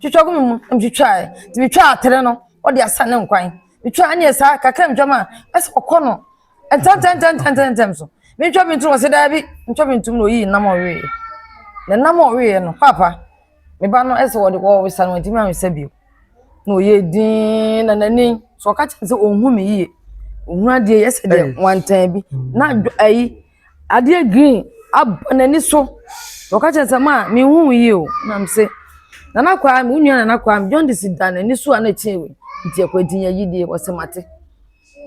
Twitwa gu me mu, metwitwae, nti metwaa atere no, wɔde asa ne nkwan. Metwaa ne saa kakra metwam a, ɛsɛ ɔkɔ no ntɛntɛntɛntɛntɛntɛm so. Mentwa bi ntom, ɔsɛ daabi, mentwa bi ntom na oyii nam a ɔweeɛ. Na nam a ɔweeɛ no, paapa, me ba no ɛsɛ wɔde wɔresa no, wɔntumi ansa bio. Na ɔyɛ dinn na n'ani, so ɔka kyerɛ sɛ ɔnhu me yie, ɔhunu adeɛ yɛ sɛ deɛ wantan bi. Na ayi. adeɛ green abɔ n'ani so na ɔka kyerɛ no sɛ maa menhu wo yie o na me se nana kwaa me wo nua nana kwaa me jaundice da n'ani so a na ɛkyɛn wei nti ɛkɔ ɛti nya yidie ɔsɛ mate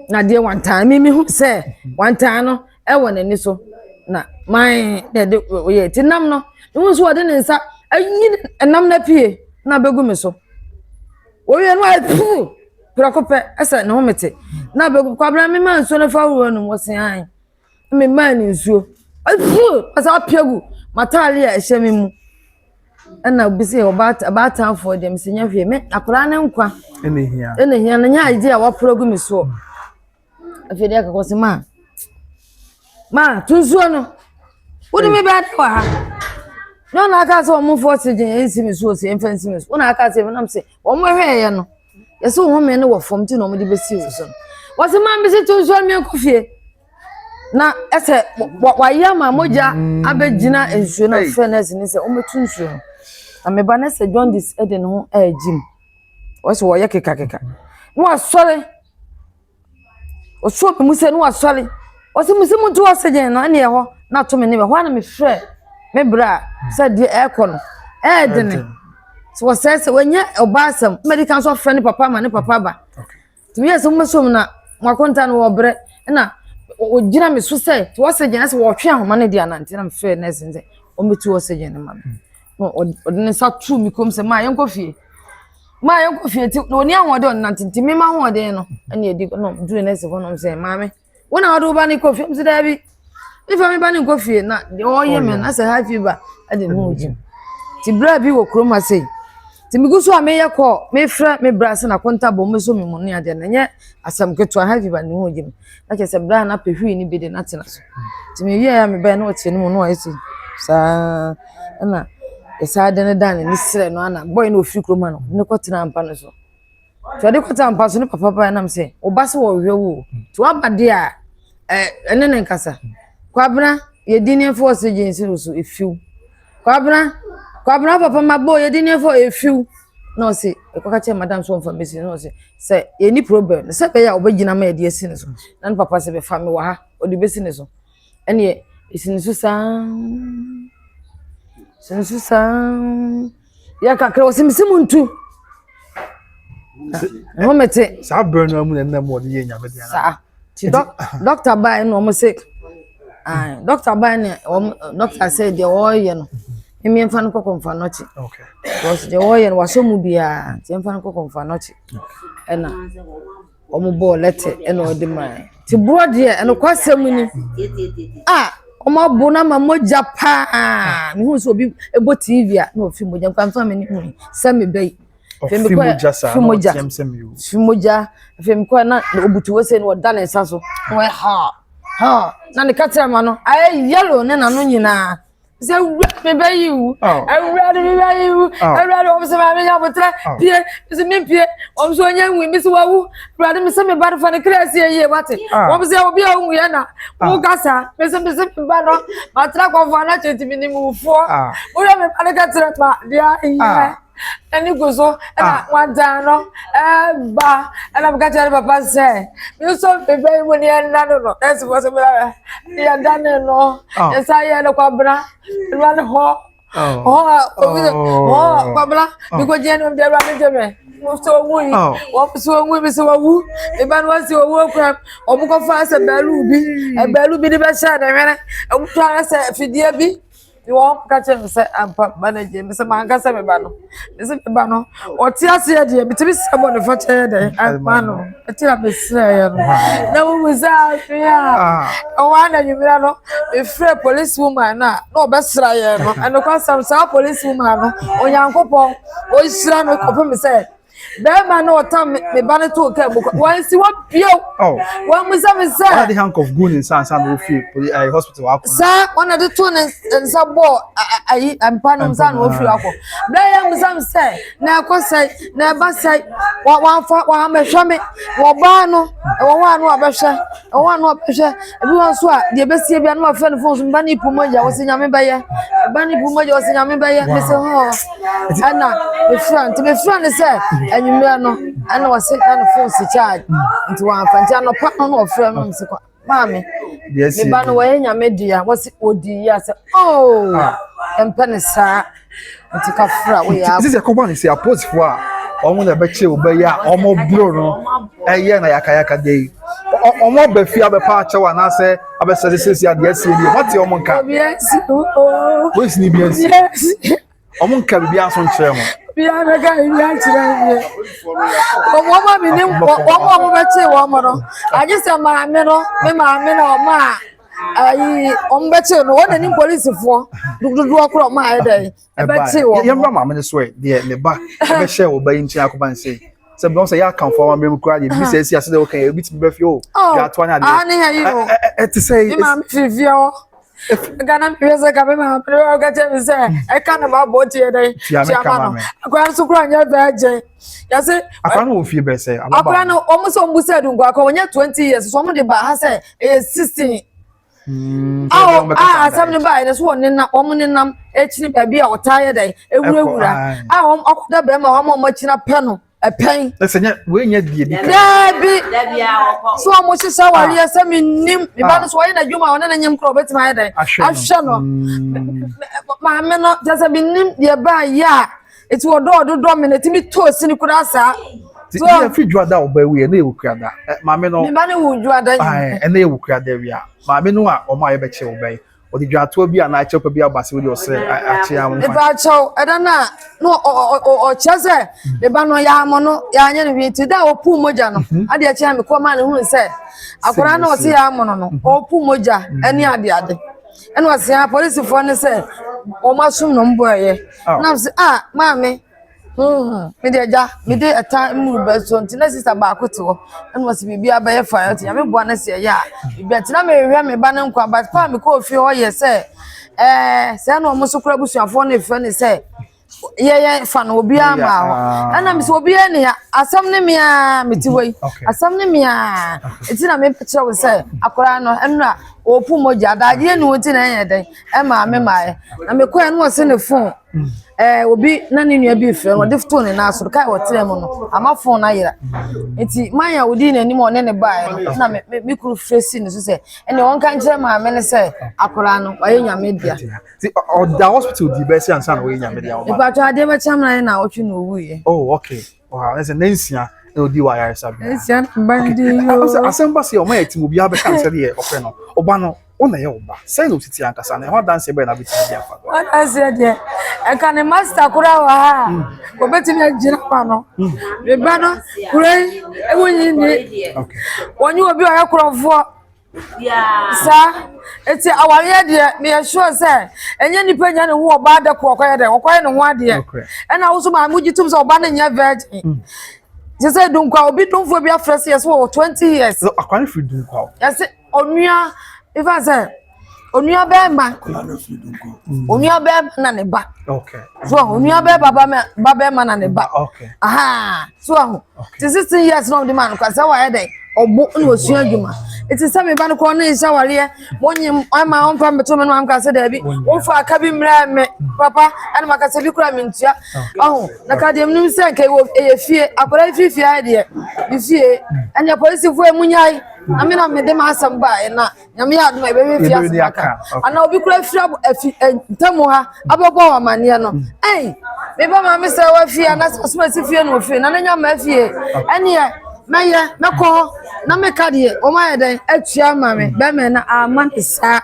na adeɛ wantaa me mehu sɛ wantaa no ɛwɔ n'ani so na man na ɛde ɔyɛ ɛti nam no mehu nso ɔde ne nsa ayi nam no apue na abɛgu me so wɔwie no ayɛ puu prɛko pɛ ɛsɛ ne ho mete na abɛgu kwabena mema nsuo no fa wura no mu ɔse ae Memaa no nsuo. Ɔsii ɔsan apia gu m'atadeɛ a ɛhyɛ me mu. Ɛna obi sɛ ɔbaatan ɔbaatanfoɔ deɛ mesɛ nyɛ hwee. Me akwadaa no nkwa. Ɛna hia. Ɛna hia no nyɛ adeɛ a wɔapra gu me soɔ. Afei deɛ kakɔ sɛ maa. Maa to nsuo no. Wode me bɛɛ de wɔ ha. Na ɔna aka sɛ wɔn fɔ oxygen nsi me so ɔsi mfa nsi me so. Ɔna aka sɛ ɛnam sɛ wɔn hwɛɛyɛ no. yɛsɛ ɔhome no wɔ fam nti na wɔde bɛsi wo so wɔsɛ ma mbɛsi to nsuo mmiɛnko fie na ɛsɛ wayɛ ama mogya abɛgyina nsuo no afrɛ no asi ne sɛ wɔmɛto nsuo no na meba no sɛ john dis ɛde ne ho ɛregye mu wɔsɛ wɔyɛ kekakeka na wasɔre Ɔsoo me mu sɛ na wasɔre. Ɔse mese monto oxygen no ɛne ɛhɔ na ato me ne me. Ɛhɔ ara na mefrɛɛ me bra sɛ deɛ ɛrekɔ no ɛyɛ dene. Nti wɔsɛe sɛ wɔnyɛ ɔbaa asɛm. Mmɛdi kan so ɔfrɛ ne papa ma ne papa ba. Nti meyɛɛ sɛ mommɛsom na mo akonta no wɔbrɛ ɛna wɔgyina me so sɛ to oxygen ɛsɛ wɔtwe ahoma no de anante na mefrɛɛ nurse no sɛ ɔmmɛtu oxygen no ma me. Na ɔde ne nsa too me kɔn mu sɛ ma yɛnkɔ fie. maa yɛn kɔ fie ti na oni ahoɔden ɔnante nti mema ahoɔden no ɛna edi na duru nɛɛsi hɔ nom sɛ maame wɔn na ɔde wo ba ne kɔ fie ɔmo sɛ daabi nifa mi ba ne nkɔ fie na deɛ ɔyɛ mɛ na sɛ high fever ɛde ne ho gyim ti bere bi wɔ kurom ase ti mi gu so a meyɛ kɔ mefrɛ me bra sɛ na kɔnta bɔ ɔmo so mi mu ne adeɛ na nyɛ asɛm ketewa high fever ne ho gyim. na kyerɛ sɛ berɛ a na pehwii no bi de no atena so nti mewieɛ a mebɛɛ na ɔteɛ no mu na ɔyɛ sɛ saa ɛna ɛsaa de no daa n'ani serɛ no ana bɔe na ɔfiri kurom ano ne kɔtena mpa no so nti ɔde kɔtena mpa so ne papa paa nam sɛ woba sɛ wɔhwɛ wo nti woaba deɛ a ɛne ne nkasa kwabena yɛdi nneɛmfa wɔ sɛ gyensiro so ɛfiw kwabena kwabena papa ma bɔ yɛdi nneɛmfa ɛfiw na ɔse mekɔka kyerɛ madam sɛ ɔmfa mɛsi no na ɔse sɛ yɛni problem no sɛ bɛyɛ a ɔbɛgyina ma yɛde asi ne so na ne papa sɛ bɛfa me wɔ ha ɔde bɛsi ne so ɛneɛ ɛsi ne so saa si ne so saa yɛ kakra ɔse mese mu ntu ɛho mete saa berɛ no amu na ɛnam ɔde yɛ nyame deɛ saa dɔkta baa na wɔn sɛ dɔkta baa na wɔn dɔkta sɛ deɛ wɔreyɛ no mmea nfa no kɔkɔ nfa nɔkye because deɛ wɔreyɛ no wasɔ mu biara nti nfa no kɔkɔ nfa nɔkye ɛna wɔn bɔɔ lɛtɛ ɛna wɔde maa ti borɔ deɛ ɛnokwa sɛm ni a wɔn abo na ma mogya paa mehu sɛ obi bɔ tv a na ofi mogya nfa nfa mi ne mu sɛ mi bɛyi. ɔfi mogya saa na ɔteɛm sɛ mi o fi mogya afei mi kɔɛ na obutu wɔ sɛ na ɔda ne nsa so na ɔyɛ ha ha na ne kakyira ma no ayɛ yɛlo ne n'ano nyinaa sɛ wura mi bɛ yi wu awura de mi bɛ yi wu awura de wɔn sɛ maame nya abotire pie mi sɛ mi pie wɔn sɛ ɔnyɛ nwi mi sɛ wawu awura de mi sɛ mi ba de fa ne kira si yie wate wɔn sɛ obi a ɔnwu yɛ na mo kasa mi sɛ mi sɛ mi ba no ma tira kɔnfɔ anakye ti mi ni mu foɔ wura mi ba ne kakyira ma deɛ yɛ. ɛne gu so ɛna ah. wadan no ɛba ɛna meka kyerɛ ne papa sɛ me nso mebɛ yi mu ne ɛnna no no ɛsi fɔ so mena yɛda ne no ah. yɛsa yɛ no kwabena ɛnua ne hɔ hɔ a obi sɛ hɔ a kwabena mekɔgyeɛ no mdeɛ ɛwura ne gye me sɛ ɔwu yi sɛ ɔwu yi sɛ ɔwu ɛba no wɔsi ɔwu akuram ɔmokɔfa sɛ baalu bi ɛbaalu bi de bɛhyɛ ne hwene ɛmotɔ ara sɛ fidie bi ne wɔn ka kyerɛ me sɛ ampa ba no agye me sɛ manka sɛ me ba no me sɛ me ba no ɔte aseɛ deɛ metumi sɛ bɔ ne fɔkyɛ yɛ dɛn ama no ɛte a mesrɛeɛ no na wohu sɛ ahwe a ɛwɔ ananwummerɛ no mefrɛ police woman no a na ɔbɛsra yɛ no ɛnokwasɛm saa police woman no onyankopɔn ɔhyira no kɔpem sɛ bɛrima na ɔtan me me ba no too kaa mu kwa wɔnsi hɔ bio oh. wɔn mu sɛ me sɛ ɔna de handcuff gu ne nsa nsa na ofie poli ɛɛ eh, hospital akɔ saa ɔna de to ne nsa bɔɔ ayi mpa no nsa na ofie akɔ bɛrɛ yɛ mu sɛ me sɛ na ɛkɔ sɛe na ɛba sɛe wɔn wɔn afa wɔn amɛhwɛ me wɔn baa no wɔn a no abɛhwɛ wɔn a no abɛhwɛ. Ebi wɔ nso a deɛ ɛbɛsie bia na wafrɛ no fon so meba ne poma gya wɔsɛ nyame bɛyɛ meba ne poma gya wɔsɛ nyame bɛyɛ mesɛ ho ɛna mefrɛ nti mefrɛ no sɛ anwummerɛ no ɛna wɔse na ne fon si charge nti wɔamfa nti anɔpa no na ɔfrɛ no mesɛ kwa maame meba no wɔyɛ nyame dea wɔse ɔdi yi asɛ oo ɛmpɛ ne saa Nti sɛ ɛkɔba no sɛ aposifoɔ a wɔn na ɛbɛkyɛ wo bɛyɛ a wɔn bro no ɛyɛ na yakayaka de yi wɔn aba fie abɛpa akyɛw anaasɛ abɛsɛde siesie adeɛ asie bi wɔn te wɔn nka polisi ni bi asi wɔn nka bibi aso nkyerɛ mo. biara bɛka bibi akyerɛ yie wɔn wɔn a mi ni wɔn a wɔn bɛkyɛ wɔn no agye sɛ maame no me maame na wɔn a. ayi wɔn bɛkye no wɔn na nim polisifoɔ dodoɔ korɔ ɔmo ayɛ dɛ ɛbɛkye wɔn. yɛn bra maame no so ɛ deɛ ne ba ɛbɛhyɛ wɔ ba yi nkyɛn akɔba nsɛn sɛ bi wɔn sɛ yɛ akanfo awa mmerɛ mu kura deɛ bibi sɛ ɛsi ase dɛ ɔka yɛ ebi ti bi bɛ fi o yɛ ato anya deɛ ɛte sɛ ɛyɛ. mi maame fi fie hɔ ghana mi yɛ sɛ kame maame no ɔka kyɛ mi sɛ ɛka na ma bɔ tiɛ dɛ tiɛ ma no akora nso kura nyɛ bɛɛ gyɛ yɛsi. akora no wɔ fie bɛɛ sɛ ababa akora no wɔn sɛ wɔn bu sɛ dunkwa akora wɔn nyɛ twenty years so wɔn de ba ha sɛ ɛyɛ sixteen hmm, awo a ah, asɛm no baeɛ no so wɔ nenam wɔn nenam akyiri baabi a ɔtaa yɛ dɛ ewurawura a wɔn akɔda bɛrima wɔn a wɔn akyina pɛ no ɛpɛn. ɛsɛ nyɛ wei nyɛ die bi kan. dɛbi so a mo hyehyɛ awari ah. ɛsɛ mi nim mi ba no so ɔyɛ n'adwuma a ɔne ne nyim koro ɔbɛtumi ayɛ dɛ ahwɛ no hmm. maame no kyɛ sɛ mi nim deɛ baa yɛ a. Eti wɔ dɔ ɔdo dɔ mi na etimi to osini koraa saa. Ti So- yɛ fi juada a ɔba ewia ɛna yɛ okuada ɛ maame no Meba ne wo dwa da yi. ɛɛ ɛna yɛ okuada ewia maame no a ɔmo a yɛbɛkye ɔba yi ɔde juatoɔ bi a na akyɛ pa bi aba se wode ɔsɛ akye ya nfa Meba kyɛw ɛda no a na ɔ- ɔ- ɔ- ɔkyerɛ sɛ meba no yɛamɔ no yɛanyɛ no hwee nti da a ɔpuu mogya no adeɛ akyerɛ me kɔɔ maa no huu sɛ akwadaa no a ɔse yɛamɔ no no ɔpuu mogya ɛne adeade ɛna ɔse a polisifoɔ no sɛ wɔn asom na wɔn bɔ ɛyɛ oh. na ɔse a ah, maame hmm, mede agya mede ɛta mmuru bɛ so nti na sista baako te hɔ ɛna ɔse biribi abɛyɛ fa ɛte nyame boa no sɛ ɛyɛ a biribi ati na mehwehwɛ me ba no nkwa but paa mekɔɔ fie hɔ yɛ sɛ ɛɛ sɛ na wɔn so kora abusuafoɔ no efrɛ ne sɛ yɛyɛ fa no obiara ma hɔ ɛna mi sɛ obiara ni ha asɛm ne mi aa mi ti wɔ yi asɛm ne mi aa eti na mi kyerɛ wo sɛ akwaraa no ɛnu a ɔɔpu mogya adagyeɛ ni wɔn ti na ɛyɛ dɛn ɛmaa mi maa yɛ na mi kɔ yɛ no ɔsi ne fon ɛɛ obi na ne nua bi fɛ no ɔde to ne nan so kaa ɔtena mu no ama fon na yɛra eti man a odi n'anim a ɔne ne baa yɛ no ɛna mi mi kuru fɛ si ne so sɛ ɛna wɔn ka nkyerɛ maame ne sɛ akwaraa no ɔyɛ nyame dea. ti ɔda hospital di bɛsi ansa na ɔyɛ nyame deɛ ɔma. ìpàtó adeɛ bɛ kyɛn mìíràn na ɔtwi na owu yɛ. oh okay wow ɛsɛ ne nsia na odi wɔ ayaresa bi. nsia na mba n di yi o. asɛm ba se ɔmo yɛ tim obiara bɛka nsɛ deɛ ɔpɛ no ɔba no ɔna yɛ ɔba sɛn na ositi ankasa na ɛho adanseɛ bɛyɛ na abɛtumi di afa. adanseɛ deɛ ɛka ne master koraa wɔ ha a obetumi agyina ma no ne ba no kura yi ewu nyi ni wɔnyi obi ɔyɛ korɔfoɔ. saa nti awareɛ deɛ meyɛ sure sɛ ɛnyɛ nipa nya ne ho ɔba adako ɔkɔyɛ dɛ ɔkɔyɛ ne ho adeɛ ɛna woso maa mo gye tom sɛ ɔba no nyɛ virgin mm. te sɛ dunkwa obi domfoɔ bi afrɛ sɛ yɛsɛ wɔ 20 years akwa no firi dunkwa yɛsɛ onua ifa sɛ onua bɛɛma mm. onua bɛɛma na ne ba so onua bɛɛba ba bɛɛma na ne ba aha so ahu te sixteen years na ɔde ma no kwa sɛ wayɛ dɛ ɔbo na osua adwuma eti sɛ mi ba no kɔn ne nhyɛ awareɛ mo nye mu ɛma ɔnfa mi to mi no ma mi ka sɛ dɛbi wofa aka bi mmerɛ mi papa ɛna ma ka sɛ bi kura mi ntua ɔho na ka deɛ mi sɛ nka ɛwɔ ɛyɛ fie akɔda efi fie ayɛ deɛ bi fie ɛnyɛ polisifoɔ emu nyae na mi na mi de ma asɛm ba ɛna. nyame yɛ adoma ɛbɛyɛ fi ase baka ana obi kura fira afi ntamu ha abɛbɔ wɔn amaneɛ no ɛn meba maa mi sɛ wafi anasɛ ɔsoma si fie na ofie na ne nya ma afie ɛneɛ mɛyɛ mɛkɔ hɔ na meka deɛ wɔn ayɛ dɛn atua ma me bɛmɛ na ama ne saa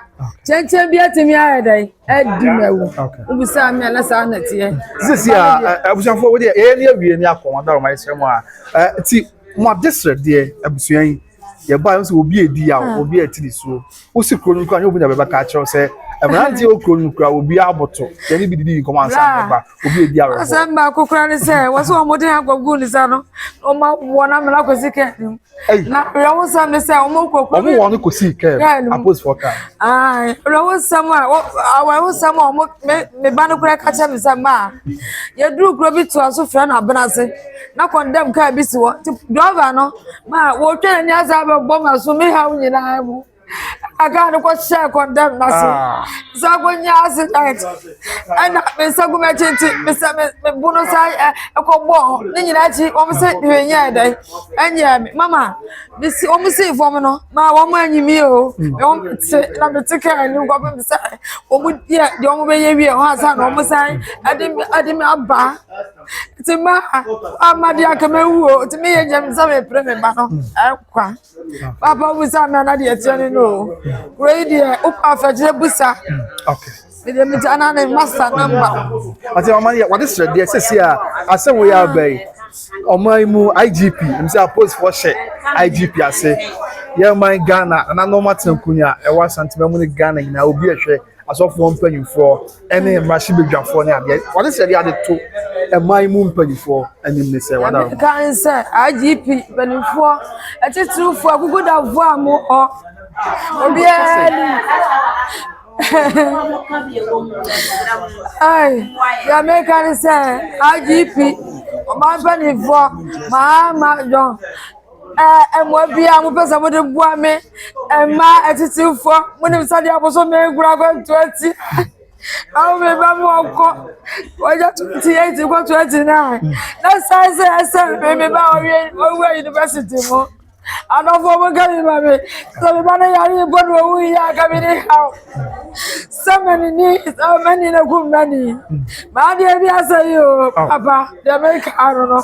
kyɛnkyɛn bi atumi ayɛ dɛn adi ma awu wobisa me ana saa na teɛ sisi a abusuafoɔ wo deɛ ɛyɛ ne awie ne akɔ wɔn adɔrɔma ɛsrɛ mu a ti mo adesrɛ deɛ abusua yi Yɛbaeɛ no sɛ obi a ɛdi yaw, obi a ɛte ne suo. Wosi kuro no mu kura nyɛ obi na bɛbɛka akyerɛ wo sɛ mmeranteɛ wɔ kuro no mu kura obi aboto. Yɛne bi didi nkɔmmɔ ansa na ɛba. Obi a ɛdi awerɛhoɔ. Asɛm baako kura ne sɛ wɔ sɛ wɔde agogo ne sa no ɔma wɔn na mmena kɔsi kaa no mu. Na werɛhosɛm ne sɛ wɔn kɔ kuro wɔn wɔn kɔsi kaa mu aposifoɔ kaa. Ae werɛhosɛm a awɛhosɛm a wɔn me me ba no kura ka kyerɛ me sɛ maa yɛduru kuro bi toa so frɛ no abena ase. na kɔndɛm kaa bi si hɔ nti drɔva no ma wɔtwa n'ani ase abɛbɔ ma so me haw nyinaa mu ɛna kaa no kɔhyɛ kɔndɛm na so ah. sɛ akɔnya accident ɛna me nsa gu m'akyi nti mesɛ me bo no sa ɛkɔbɔ ne nyinaa akyi wɔn sɛ hwee nyɛ dɛ ɛnyɛ me mama mesi wɔn sii fam no ma wɔn anyi mi o wɔn te na me te kaa anim kɔpem sɛ wɔn yɛ deɛ wɔn bɛyɛ wie wɔn asa na wɔn san ɛde ɛde me aba. nti ma ama deɛ aka ma wuo nti me yɛ gyam sɛ mepere me ba no ɛkwa papa mu sɛ amena na deɛ ɛteɛ ne no o kuro yi deɛ wopɛ afɛkyerɛ busa mede me gya na ne masa namba ɔte ɔma yɛ wɔde srɛ deɛ sɛsi a asɛ wo yɛ aba yi ɔman mu igp m sɛ apolisifoɔ hyɛ igp ase yɛ man ghana nananom atenkunya ɛwɔ asantema mu ne ghana nyinaa obi ɛhwɛ asɔfoɔ mpanimfoɔ ne mmarahyɛbadwafoɔ ne adeɛ wɔde sɛ de ade to ɛman mu mpanimfoɔ anim ne sɛ wɔada wɔn. kan sɛ igp mpanimfoɔ atitirifoɔ agugudafoɔ a mo hɔ obiara ni ai deɛ meka ne sɛ igp ɔman mpanimfoɔ maa ma dɔn Ɛɛ, mmoa biara a mopɛ sɛ mode boa me mma atitirifoɔ, monim sɛdeɛ abosome nkura akwantuo ti. Awo me ba mu ɔkɔ, wɔyɛ twenty eight kɔ twenty nine. Na san sɛ ɛsɛ me me ba ɔwie ɔwɔ yunifasiti mu. Adɔfoɔ mo ka mi ma me, sɛ me ba no yare mpo na owu yi a ka me ne haw. Sɛ mani ni sɛ mani na kum mani. Maa deɛ bi asɛ yi o, papa deɛ meka ano no.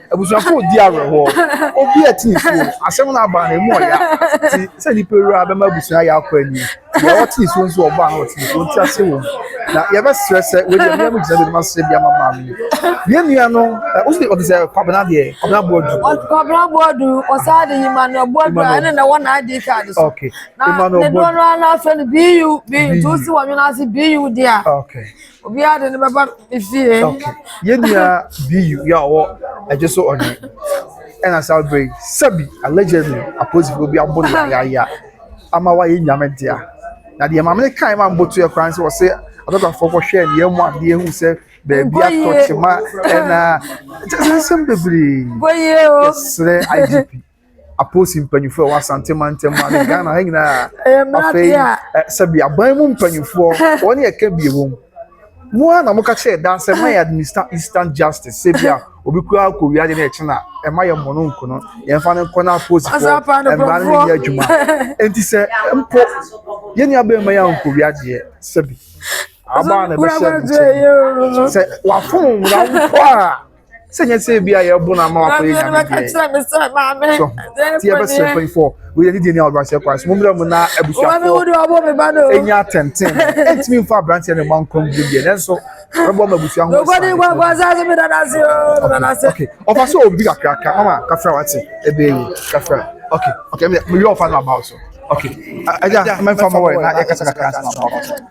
Abusuafo redi awerɛhoɔ. Obi a ɛte nsuo. Asɛm no aba no, emu ɔya. Ti sɛ nnipa wura bɛma abusua ayɛ akɔ anim. Deɛ ɔte nsuo nso ɔba no ɔte nsuo nti ase wɔ mu. Na yɛbɛsrɛ sɛ wei deɛ mmea mu gyina bɛnim ase de ama maame yi. Yɛn nua no, wosi ɔte sɛ Kwabena deɛ, Kwabena Boadu. Kwabena Boadu, ɔsan de Emmanuel Boadu a ɛne na ɛwɔ na ID card so. Okay. Na ne doɔ no ara na afɛ no BU, BU, nti wosi wɔn nwene ase BU deɛ a. Okay. obiara de ne bɛba ne fie. okay yɛn nua biyu yɛ ɔwɔ ɛgye so ɔne ɛna saa bere yi sɛbi allegedly apolisifoɔ bi abɔ no yayaya ama wayɛ nyame dea na deɛ maame no kae ma mboto yɛ koraa no sɛ wɔsɛ adɔkafoɔ kɔhwɛ nneɛma mu adeɛ hu sɛ baabi atɔ kyema ɛna kyɛ sɛ nsɛm bebree Boyie o. yɛsrɛ idp apolisi mpanyinfoɔ a ɛwɔ asante mantam ha ne Ghana ha nyinaa. Ɛyɛ mmerante a. Sɛbi aban mu mpanyinfoɔ wɔn yɛ ka bie wɔm. Mo a na mo ka kyerɛ daa sɛ ma yɛ administer instant justice sɛbi a obi kura akɔ wia de na ɛkyi na ɛma yɛ mmono nkono yɛn fa ne nkɔ na apolisifoɔ mmara no yɛ adwuma. Nti sɛ mpo yɛn nua bɛn ma yɛ ankɔ wia deɛ sɛbi. Aba na ɛbɛhyɛ nkyɛn. Sɛ wafɔn mmara mpo a. sɛ nyɛ sɛ bi a yɛbo no ama wakɔyɛ nyame deɛ so nti yɛbɛsrɛ mpanyimfoɔ wei yɛde deɛ ni a wɔde ahyɛ kwan so mommrɛ mu na abusuafoɔ ɛnya atɛnten ɛntumi mfa aberanteɛ no ma nkwa mu bio deɛ nanso bɛbɔ ma abusua ho ɔfa sɛ obi kakraka mama kafra wate ɛbɛɛ yi kafra ok ok meyɛ ɔfa no abaw so ok ɛgya mɛmfa ma wɔ na yɛkasa kakra nso ma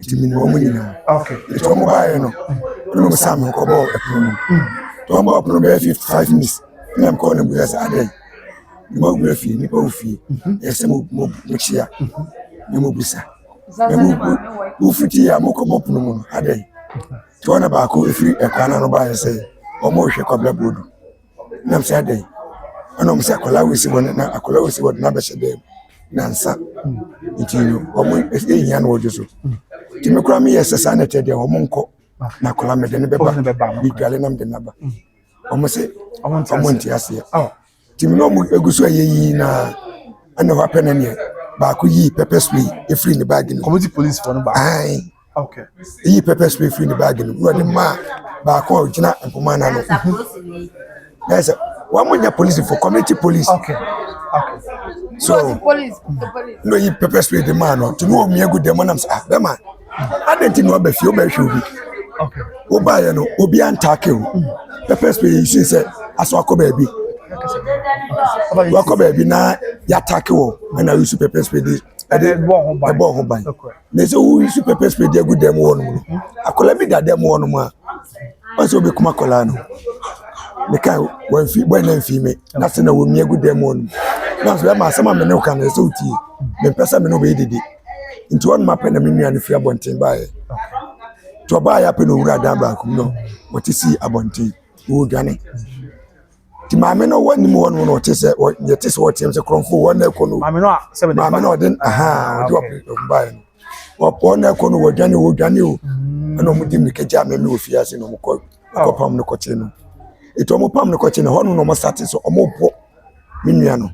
nti menim wɔn nyinaa nti wɔn baeɛ no ɛna wɔn saa me kɔbɔ ɛpono mu nti wɔn bɔ ɛpono bɛyɛ fifty five minutes ɛna me kɔɔ na busa sɛ adɛn ne ma wura fie nipa wɔ fie yɛsɛ mo mo mo kyia ne mo busa na mo mo mo fiti yɛ a mo kɔbɔ pono mu no adɛn nti wɔn na baako efiri ɛkwan ano baeɛ sɛ wɔn rehwɛ kɔbla bɔɔdu. na mese adɛn ɛna ɔmo se akwadaa wei si hɔ na akwadaa wei si hɔ na abɛhyɛ dɛm nansa nti no ɔmo ehia no wɔdwo so nti me koraa meyɛ sɛ saa na ɛtɛ deɛ ɔmo nkɔ na akwadaa mede no bɛba medwale na mede no aba ɔmo se ɔmo nte aseɛ nti me ne ɔmo egu so ɛyɛ yii na ɛna hɔ apɛ na neɛ baako yii pɛpɛ spray efiri ne baagi no ɔmo ti polisifoɔ no baako. Okay. Eyi pepper spray firi ne baagi no mu na ɔde maa baako a ɔgyina mpoma no ano. Na sɛ wɔn mo nyɛ polisifo community police. Okay. Okay. So na oyi pepper spray de maa no tumi wɔ mmea gu dɛm nam sɛ ah bɛma adan ti na ɔbɛ fie ɔbɛ hwɛ obi. Okay. Wo ba yɛ no obi antaake o. Mm. Pepper spray yi sin sɛ asɔ akɔ baabi. Wakɔ baabi na yataake wɔ ɛna yusu pepper spray de ɛde ɛbɔ ho ban. Na sɛ wosu pɛpɛ spray de agu dan mu hɔnom no, akwadaa bi da dan mu hɔnom a, wɔn sɛ wɔbɛkum akwadaa no. Meka wɔn fi bɔ ɛna mfi me na sɛ na wɔn mi agu dan mu hɔnom. Na sɛ ɛma asɛm a me ne wo ka no ɛsɛ wo tie. Mempɛ sɛ me ne wo bɛyɛ dede. Nti hɔnom apɛ na me nua no firi abɔnten baeɛ. Nti ɔbaeɛ apɛ na ɔwuraa dan baako mu na ɔte sii abɔnten, ɔredwane. Nti maame no ɔwɔ anim hɔ no na ɔte sɛ deɛ te sɛ ɔteam sɛ kurɔmfo wɔn na ɛkɔ no maame no a sɛbi de maame no ɔde ahaa ɔde ɔpɔn baeɛ no wɔpɔn na ɛkɔ no wɔdwane wɔdwane o mm. ɛna wɔn di mirika gya mɛmɛ wɔ fie ase na wɔn kɔ kɔ pam no kɔkye no etu wɔn pam no kɔkye no hɔ no na wɔn sate so wɔn bɔ ne nua no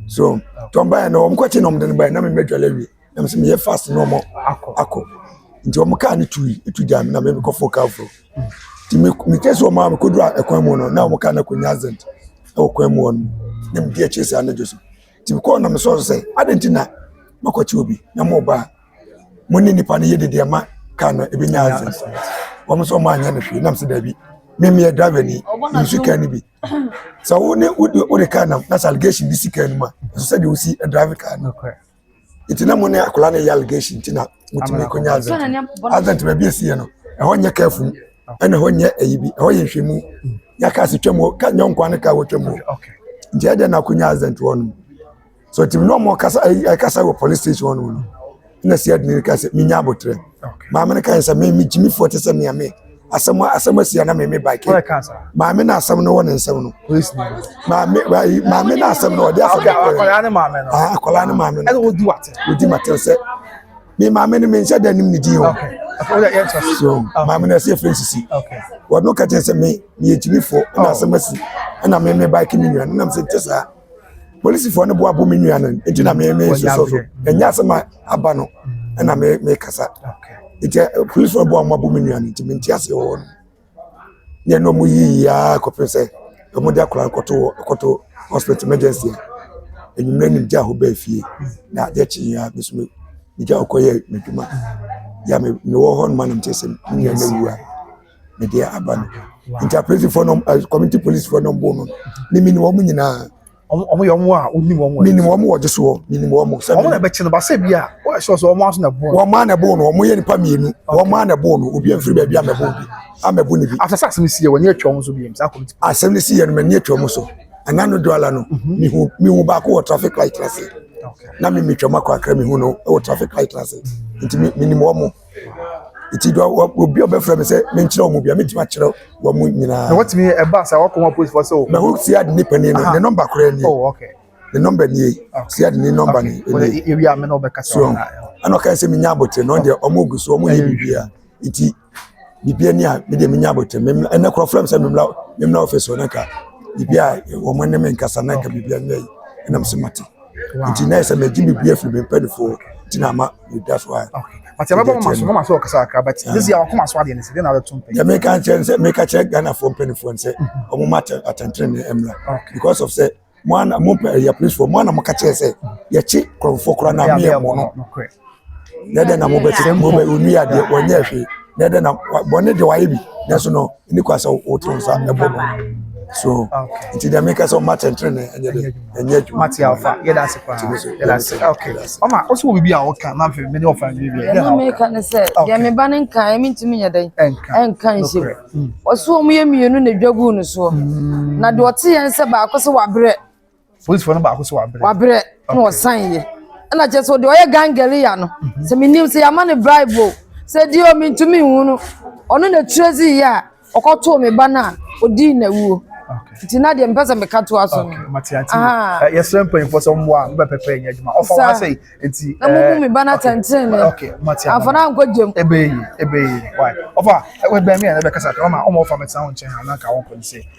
so tɔn baeɛ no wɔn kɔkye na wɔn de no baeɛ na mɛmɛ dwale awie. na mese meyɛ fast na ɔmo akɔ nti ɔmo kaa no tui etu gya me na me mekɔ fo kaa foro nti me me kɛ sɛ ɔmo a mekodu a ɛkwan mu no na ɔmo kaa no akɔnya accident ɛwɔ kwan mu hɔ no na medi akyire saa anadwo so nti mekɔɔ na mesɔɔ so sɛ adɛn nti na makɔkye obi na mo ba mo ne nipa no yɛ dede ama kaa no ebi nya accident wɔn nso ɔmo anyɛ no hwee nam sɛ daabi mmemmea driver ni nsu kaa no bi sɛ wo ne wode wode kaa nam na sɛ allegation bi si kaa no mu a ɛsɛ sɛ deɛ wosi drive kaa no nti na mo ne akwadaa no yɛ allegation nti na mo tumi ko nyɛ azɛnti azɛnti baabi esi yɛ no ɛhɔ nyɛ kɛɛfo mu ɛna ɛhɔ nyɛ ɛyi bi ɛhɔ yɛ nhwɛmu nyɛ kaa si twɛm hɔ ka nyɛ nkwa ne kaa wɔ twɛm hɔ nti ɛdɛ na ko nyɛ azɛnti hɔ nom so tìmi na ɔmo kasa ɛyi ɛkasa wɔ police station hɔ nom no ɛna si ɛdi ne kasa mi nya abotire maame ne kan sɛ mi mi gyimi fo te sɛ mia mi. Asɛm asɛm asi a na meme bike. Maame na asɛm no wɔ ne nsɛm no. Maame wayi maame na asɛm no ɔde asɛm no. Akwadaa ne maame no. Ah akwadaa ne maame no. Ɛna wodi wate. Wodi mate sɛ. Me maame no me nhyɛ dɛ nim ne din o. So maame no ɛsɛ firi sisi. Wɔn no kɛkyɛ sɛ me me yɛ gyimi fo ɛna asɛm asi ɛna me me bike me nua no nam sɛ nkyɛ saa. polisifoɔ no boa bo me nua no nti na me me soso so ɛnyɛ asɛm a aba no ɛna me me kasa nti polisifoɔ boa mo abo me nua no nti me nti ase wɔ no ne ɛna ɔmo yiyi aa kɔpem sɛ ɔmo de akora kɔto kɔto hospital emergency a enyimire ne gya hɔ bɛɛ fie na adeɛ kye yɛ a me so me gya ɔkɔ yɛ me dwuma yɛ me me wɔ hɔ no ma na me kyɛ sɛ me nua no awu a. ne deɛ aba no nti apolisifoɔ nom ɛ community polisifoɔ nom bom no mimi ni wɔn nyinaa. wɔn wɔn yɛ wɔn a wɔnim wɔn wɔ. mimi wɔn wɔ gye soɔ mimi wɔn. wɔn na ɛbɛkyɛ no basɛ bi a wɔyɛ sɔ sɛ wɔn aso na ɛbo. wɔn a na ɛbo no wɔn yɛ nipa mmienu wɔn a na ɛbo no obi afiri baabi amɛbo bi amɛbo ne bi. after sɛ asɛm si yɛ wɔn ni atwa wɔn so bi yɛm saa community. asɛm no si yɛ no mɛ ni atwa wɔn so ɛna no do ala no mihu mihu baako wɔ traffic light ase na mi mi twɛm akɔ akra mihu no wɔ traffic light ase nti mi mi nim wɔn. Nti dɔ wɔ obi a ɔbɛfrɛ me sɛ menkyerɛ wɔn bia mɛtumi akyerɛ wɔn mu nyinaa. Na wɔtumi ɛba sɛ wɔkɔma polisifoɔ sɛ o. Na wo siad ne panin no ne nɔmba koraa nie. Oh, okay. Ne nɔmba nie. Siad ne nɔmba ne nie. Ewi a me na ɔbɛkasa. So ɛna ɔka sɛ menya abotire na ɔdeɛ ɔmo gu so ɔmo yɛ biribiara. Nti biribiara ni a me deɛ menya abotire. Ɛnɛ korɔ frɛ me sɛ memla memla ɔfɛ so na ka biribiara wɔn ne me nkasa na ka biribiara nyɛ yi. Ɛnam sɛ mate. Nti na yɛ sɛ mɛgye biribiara firi me mpanimfoɔ nti na ama that's why. okay but yɛ bɛ bɔ ma so mo ma so ɔkasa akra but this year ɔkɔ ma so adeɛ ne se de na ɔbɛ to mpɛ. yɛ mi ka kyerɛ nsɛ mi ka kyerɛ ghana fo mpanyinfoɔ nsɛ ɔmo ma atɛntɛn ne ɛmla because of sɛ mo ana mo pɛ yɛ police fo mo ana mo ka kyerɛ sɛ yɛ kye kurɔfoɔ kura na mi yɛ mo no yɛ dɛ na mo bɛ ti mo bɛ onua deɛ wɔnyɛ hwee. na ɛdɛ na bɔne deɛ wayɛ bi nanso no ɛni kwa sɛ woto nsa ɛbɔ no so nti deɛ meka sɛ ɔma kyɛnkyerɛ ne ɛnyɛ de ɛnyɛ adwuma mate alfa yɛda ase paa yɛda ase okay ɔma ɔsɛ wɔ biribi a wɔka na afei mene ɔfa ne biribi ɛna meka ne sɛ deɛ me ba no nka ɛmi ntumi nyɛ dɛn ɛnka nhyɛ ɔso ɔmo yɛ mmienu na dwa guu no soɔ na deɛ ɔte yɛn sɛ baako sɛ wabrɛ polisifoɔ no baako so wabrɛ wabrɛ na ɔsan yɛ ɛna kyerɛ sɛ ɔde ɔyɛ gangalia no mhm. sɛ menim sɛ yɛama no bribe o sɛ deɛ o mentumi nhu no ɔno na tire dzi yɛ a ɔkɔtoo me ba no a ɔdii na wuo nti na deɛ mpɛ sɛ meka to aso no ah. eh, yɛsrɛ mpanyimfoɔ sɛ mmoa no bɛpɛpɛ ɛnyɛ adwuma ɔfa wa sɛ nti na momu eh, me ba no atɛntene ne amfa no ankɔ gyam ɛbɛyi ɛbɛyi ɔfa ɛbɛn me a na bɛkasa kama ɔma ɔfa mɛtena wo nkyɛn ha na nka wo nkɔ ne sɛ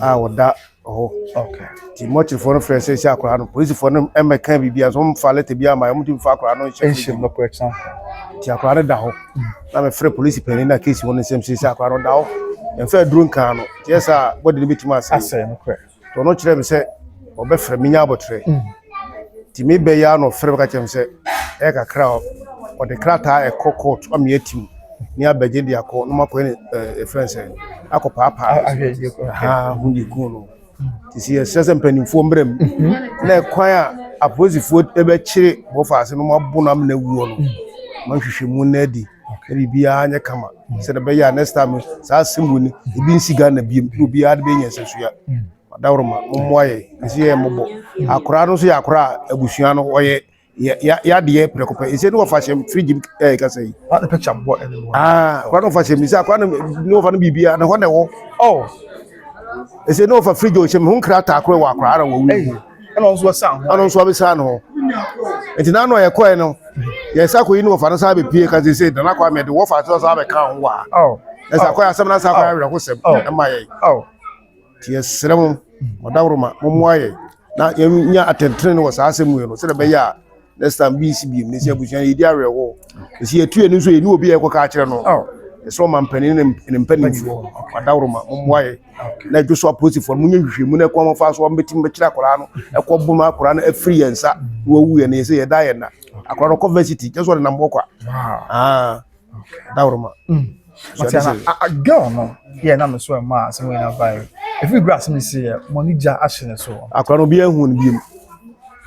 a ɔda hɔ nti mɔkyerefo no frɛ sɛ sɛ akwadaa no polisifo no mmɛka biribi a wɔn mfa lɛtɛ bi ama wɔn de mfa akwadaa no nhyɛ nhyɛ no kora kyɛn nti akwadaa no da hɔ na mɛfrɛ polisi panyin na keesi wɔn nsɛm sɛ sɛ akwadaa no da hɔ mfa aduro nkaa no yɛ sɛ bɔde no bɛtumi asɛe asɛe no kora tɔ no kyerɛ me sɛ ɔbɛfrɛ menya abɔtrɛ Nti me ba yi ara na ɔfrɛɛ me ka kyerɛɛ me sɛ ɛyɛ kakra a ɔde krataa a ɛkɔ court ama me atim ne abɛgye de akɔ na makɔyɛ ne ɛɛ ɛfrɛ no sɛ akɔ paapaa Ahwɛgye kɔ. haa ho de kun no. Nti sɛ yɛsrɛ sɛ mpanimfoɔ mmra mu na ɛkwan a apolisifoɔ bɛkyere bɔfa ase no mabo no amena wuo no ma nhwehwɛmu nna adi na biribiara nyɛ kama sɛdeɛ ɛbɛyɛ a next time no saa asɛm wei no ebi nsi Ghana biom na obiara de bɛyɛ nyansahyia. Ɔdawuruma, mommoa yɛn, ɛsɛ yɛn mmɔbɔ. Akora no nso yɛ akora a abusua no wɔyɛ yadeɛ prɛko pɛ. Ɛsɛ ne wɔfa hyɛm firi gyim ɛɛ kasa yi. Ɔfa ne picture bɔ ɛne mu. Aa, akora no wɔfa hyɛm sɛ akora no ne wɔfa no biribiara na hɔ na ɛwɔ. Oh. Ɛsɛ ne wɔfa fridge ɔhyɛm ho nkrataa koro wɔ akora ara wɔ wei. Ɛna ɔno nso ɔsan ho. Ɔno nso ɔbɛsan no hɔ. Nti na ano a yɛkɔɛ no, yɛsa akɔ yi ne wɔfa no san bɛpie ka sɛ sɛ dana kɔ amɛ de wɔfa so san bɛka ho wɔ ha. Oh. Ɛsɛ akɔ asɛm na san akɔ awerɛhosɛm ɛma yɛn. Oh. Nti yɛsrɛ mo ɔdawroma mommoa yɛn na yɛnya atɛntrenee wɔ saa asɛm wei no sɛdeɛ ɛbɛyɛ a next time bi nsi biem. Nɛsi abusua yɛdi awerɛhoɔ. Nɛsi yɛtu yɛni nso yɛni obi a yɛkɔka akyerɛ no. Yɛsrɛ ɔmampanin ne ne mpanimfoɔ ɔdawroma mommoa yɛn na ɛdwo so apolisifoɔ no monyɛ nhwehwɛmu na ɛkwan wɔfa so a wɔbɛtumi bɛkyerɛ akwadaa no ɛkɔ bom akwadaa no afiri yɛn nsa na wawu yɛn yɛsɛ yɛda yɛn na akwadaa no kɔ varsity kyɛ sɛ ɔde nam hɔ kwa. dawuruma. Mm. Wati ana a girl no yɛ na me so ɛma e asɛm nyinaa bae. Efi gura asɛm si yɛ mo ni gya ahye ne so. Akora no bi ehu ne biem.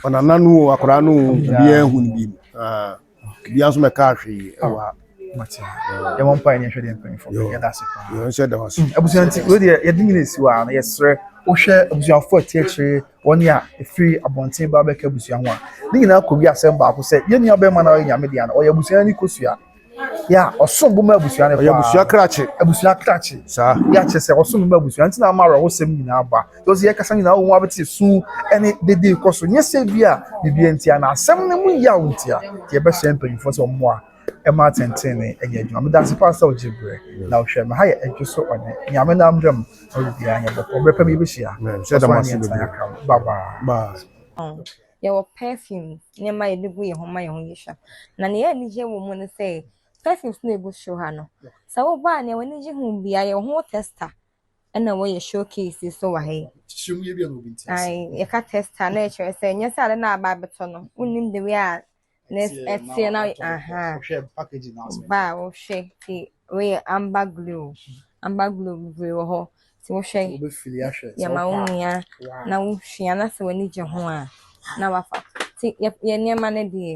Ona nanu o akora no bi ehu ne biem. Ah. Bi anso me ka ahwe yi e wa. Wati. Yɛ mo mpa enye hwe de mpan fo. Yɛ da se pa. Yɛ nse da wase. Abusuanti, wo de yɛ de nyina si wa na yɛ sere. Wo hwɛ abusuanfo atiekyire wɔn a ɛfiri abɔnten ba bɛka abusua ho a, ne nyinaa kɔwie asɛm baako sɛ, yɛn nuabɛrima no a ɔyɛ Nyame dea no, ɔyɛ abusua no ani kosua. Yeah, ɔsom bo ma abusua no paa. Ɔyɛ abusua krakye. Abusua krakye. Saa. Yeah, kyerɛ sɛ ɔsom bo ma abusua. Nti na ama awerɛhosɛm nyinaa ba. Because yɛ kasa nyinaa wɔn abɛte su ɛne dede kɔ so. Nyɛ sɛ bi a biribi ntia na asɛm no mu yaw ntia. Nti yɛbɛhyɛ mpanyinfoɔ sɛ wɔn mmoa. Mma atɛntrenee nyɛ adwuma. Meda ase paa sɛ wogye bere na wohwɛ me. Ha yɛ Adwo so ɔne nea me nam dam na ɔde biara nyɛ bɔkɔɔ. Bere pa bi yɛbɛhyia. Hyɛ so aneɛ tena yɛakra mu. Bye bye. Yɛwɔ perfume nneɛma a yɛde gu yɛn ho ma yɛn ho yɛ hwa. Na nea ɛyɛ anigye wɔ mu ne sɛ perfumes no a egu show ha no, sɛ woba a nea w'ani gye ho biara yɛ wo ho tester na wɔyɛ showcase yi so wɔ ha yi. Ae, yɛka tester na ɛkyerɛ sɛ ɛnyɛ sɛ ade no a aba abɛtɔ no wonnim the way a na ɛteɛ na ahaa ba a wohwɛ te wei yɛ amber glow amber glow bebree wɔ hɔ te wohwɛ yɛma wo nua na wohwia na sɛ w'ani gye ho a na wafa te yɛ nneɛma no deɛ